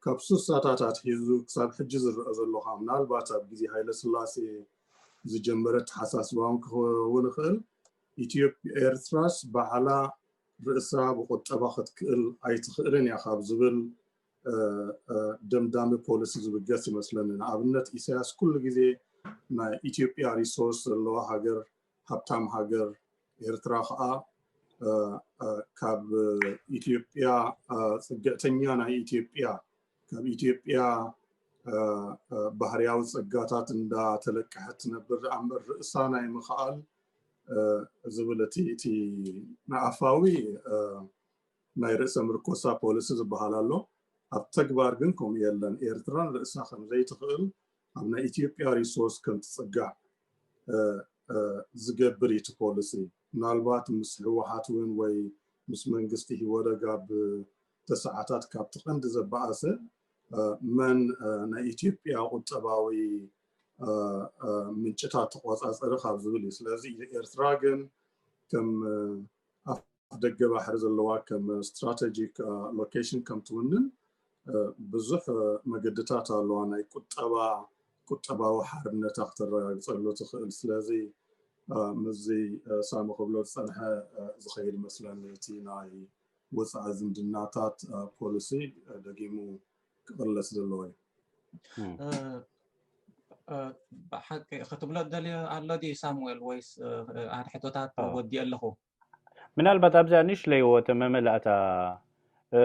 ካብ ስሳታት ኣትሒዙ ክሳብ ሕጂ ዝረአ ዘሎ ከ ምናልባት ኣብ ግዜ ሃይለ ስላሴ ዝጀመረ ተሓሳስባ እውን ክኸውን ይኽእል ኢትዮጵያ ኤርትራስ ባዕላ ርእሳ ብቁጠባ ክትክእል ኣይትኽእልን እያ ካብ ዝብል ደምዳሚ ፖሊሲ ዝብገስ ይመስለኒ ንኣብነት ኢሳያስ ኩሉ ግዜ ናይ ኢትዮጵያ ሪሶርስ ዘለዋ ሃገር ሃብታም ሃገር ኤርትራ ከዓ ካብ ኢትዮጵያ ፅግዕተኛ ናይ ኢትዮጵያ ካብ ኢትዮጵያ ባህርያዊ ፀጋታት እንዳተለቀሐት ትነብር ኣምበር ርእሳ ናይ ምኽኣል ዝብል እቲ እቲ ንኣፋዊ ናይ ርእሰ ምርኮሳ ፖሊሲ ዝበሃል ኣሎ ኣብ ተግባር ግን ከምኡ የለን ኤርትራ ንርእሳ ከም ዘይትኽእል ኣብ ናይ ኢትዮጵያ ሪሶርስ ከም ትጽጋዕ ዝገብር እዩ እቲ ፖሊሲ ምናልባት ምስ ህወሓት እውን ወይ ምስ መንግስቲ ሂወደግ ኣብ ተሰዓታት ካብቲ ቀንዲ ዘበኣሰ መን ናይ ኢትዮጵያ ቁጠባዊ ምንጭታት ተቆጻጸሪ ካብ ዝብል እዩ ስለዚ ኤርትራ ግን ከም ኣፍደገ ባሕሪ ዘለዋ ከም ስትራተጂክ ሎኬሽን ከም ትውንን ብዙሕ መገድታት ኣለዋ ናይ ቁጠባ ቁጠባዊ ሓርነታ ክተረጋግፀሉ ትኽእል ስለዚ ምስዚ ሳሚ ክብሎ ዝፀንሐ ዝኸይድ መስለኒ እቲ ናይ ወፃኢ ዝምድናታት ፖሊሲ ደጊሙ ክቕለስ ዘለዎ እዩ ብሓቂ ክትብሎ ደልዮ ኣሎ ድዩ ሳሙኤል ወይስ ኣንሕቶታት ወዲኦ ኣለኹ ምናልባት ኣብዚኣ ንእሽለይ ወተ መመላእታ እ፣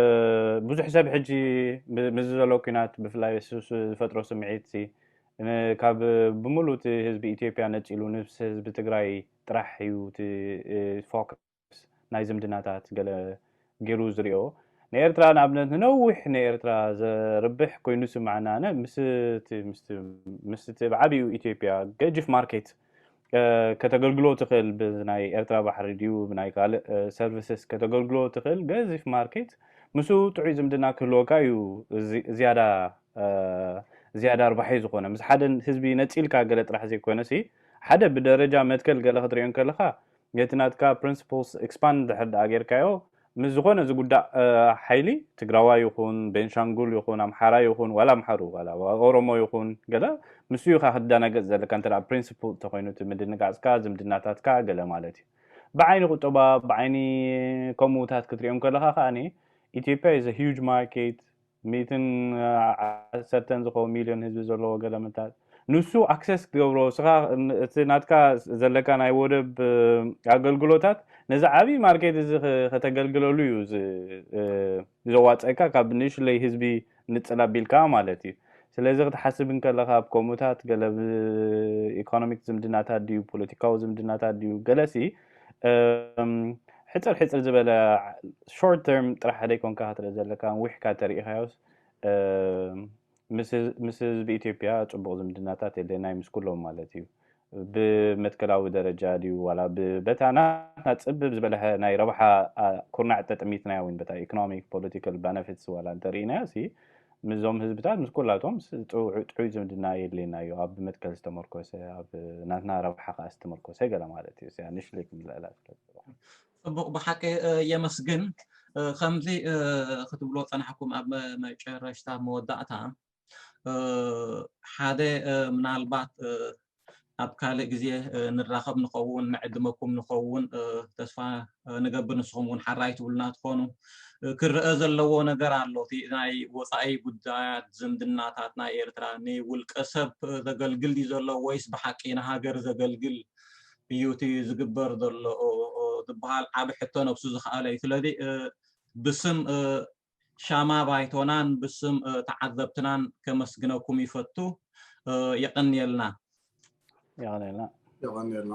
ብዙሕ ሰብ ሕጂ ብ- ምስዚ ዘሎ ኩናት ብፍላይ እሱ እሱ ዝፈጥሮ ስምዒት ሲ ን- ካብ ብምሉእ እቲ ህዝቢ ኢትዮጵያ ነፂሉ ንስ ህዝቢ ትግራይ ጥራሕ እዩ እቲ እ፣ ፎከስ ናይ ዝምድናታት ገለ ጌሩ ዝሪኦ ንኤርትራ ንኣብነት ንነዊሕ ንኤርትራ ዘርብሕ ኮይኑ ዝስምዓና ኣነ ምስቲ ምስቲ ምስቲ ብዓቢኡ ኢትዮጵያ ገጅፍ ማርኬት ከተገልግሎ ትኽእል ብናይ ኤርትራ ባሕሪ ድዩ ብናይ ካልእ ሰርቪስስ ከተገልግሎ ትኽእል ገዚፍ ማርኬት ምስኡ ጥዑይ ዝምድና ክህልወካ እዩ ዝያዳ ዝያዳ ኣርባሒ ዝኾነ ምስ ሓደ ህዝቢ ነፂልካ ገለ ጥራሕ ዘይኮነሲ ሓደ ብደረጃ መትከል ገለ ክትሪኦ ከለኻ ነቲ ናትካ ፕሪንስፕልስ ኤክስፓንድ እንድሕር ድኣ ጌርካዮ ምስ ዝኾነ ዝጉዳእ ሓይሊ ትግራዋይ ይኹን ቤንሻንጉል ይኹን ኣምሓራይ ይኹን ዋላ ኣምሓሩ ዋላ ኦሮሞ ይኹን ገለ ምስኡ ኢኻ ክትደናገጽ ዘለካ እንተ ድኣ ፕሪንስፕል እንተኾይኑ እቲ ምድንጋጽካ ዝምድናታትካ ገለ ማለት እዩ ብዓይኒ ቁጠባ ብዓይኒ ከምኡታት ክትሪኦም ከለኻ ከኣ ኢትዮጵያ is a huge market ሚእትን ዓሰርተን ዝኸውን ሚልዮን ህዝቢ ዘለዎ ገለመታት ንሱ ኣክሰስ ክገብሮ እስኻ እቲ ናትካ ዘለካ ናይ ወደብ ኣገልግሎታት ነዚ ዓብይ ማርኬት እዚ ከተገልግለሉ እዩ ዘዋፀካ ካብ ንእሽለይ ህዝቢ ንፅል ኣቢልካ ማለት እዩ ስለዚ ክትሓስብ እንከለኻ ኣብ ከምኡታት ገለ ኢኮኖሚክ ዝምድናታት ድዩ ፖለቲካዊ ዝምድናታት ድዩ ገለሲ ሕፅር ሕፅር ዝበለ ሾርት ተርም ጥራሕ ዘይኮንካ ክትርኢ ዘለካ ዊሕካ ተሪኢካዮስ ምስ ህዝቢ ኢትዮጵያ ፅቡቅ ዝምድናታት የድለናይ ምስ ኩሎም ማለት እዩ ብመትከላዊ ደረጃ ድዩ ዋላ በታ ናትና ፅብብ ዝበለሐ ናይ ረብሓ ኩርናዕ ተጠሚትናያ ወይ በታ ኢኮኖሚክ ፖለቲካል ባነፊትስ ዋላ እንተርኢናያ ሲ ምስዞም ህዝብታት ምስ ኩላቶም ጥዑይ ዝምድና የድልየና እዩ፣ ኣብ መትከል ዝተመርኮሰ፣ ኣብ ናትና ረብሓ ከኣ ዝተመርኮሰ ገለ ማለት እዩ፣ እዚኣ ንእሽተይ ክምልኣላ ስለ ዝደለኹ። ጽቡቕ ብሓቂ የመስግን። ከምዚ ክትብሎ ጸናሕኩም ኣብ መጨረሽታ መወዳእታ ሓደ ምናልባት ኣብ ካልእ ግዜ ንራኸብ ንኸውን ንዕድመኩም ንኸውን ተስፋ ንገብር ንስኹም እውን ሓራይ ትብሉና ትኾኑ ክረአ ዘለዎ ነገር ኣሎ እቲ ናይ ወፃኢ ጉዳያት ዝምድናታት ናይ ኤርትራ ንውልቀ ሰብ ዘገልግል ድዩ ዘሎ ወይስ ብሓቂ ንሃገር ዘገልግል እዩ እቲ ዝግበር ዘሎ ዝበሃል ዓብ ሕቶ ነብሱ ዝኸኣለ እዩ ስለዚ ብስም ሻማ ባይቶናን ብስም ተዓዘብትናን ከመስግነኩም ይፈቱ። የቐንየልና። የቐንየልና። የቐንየልና።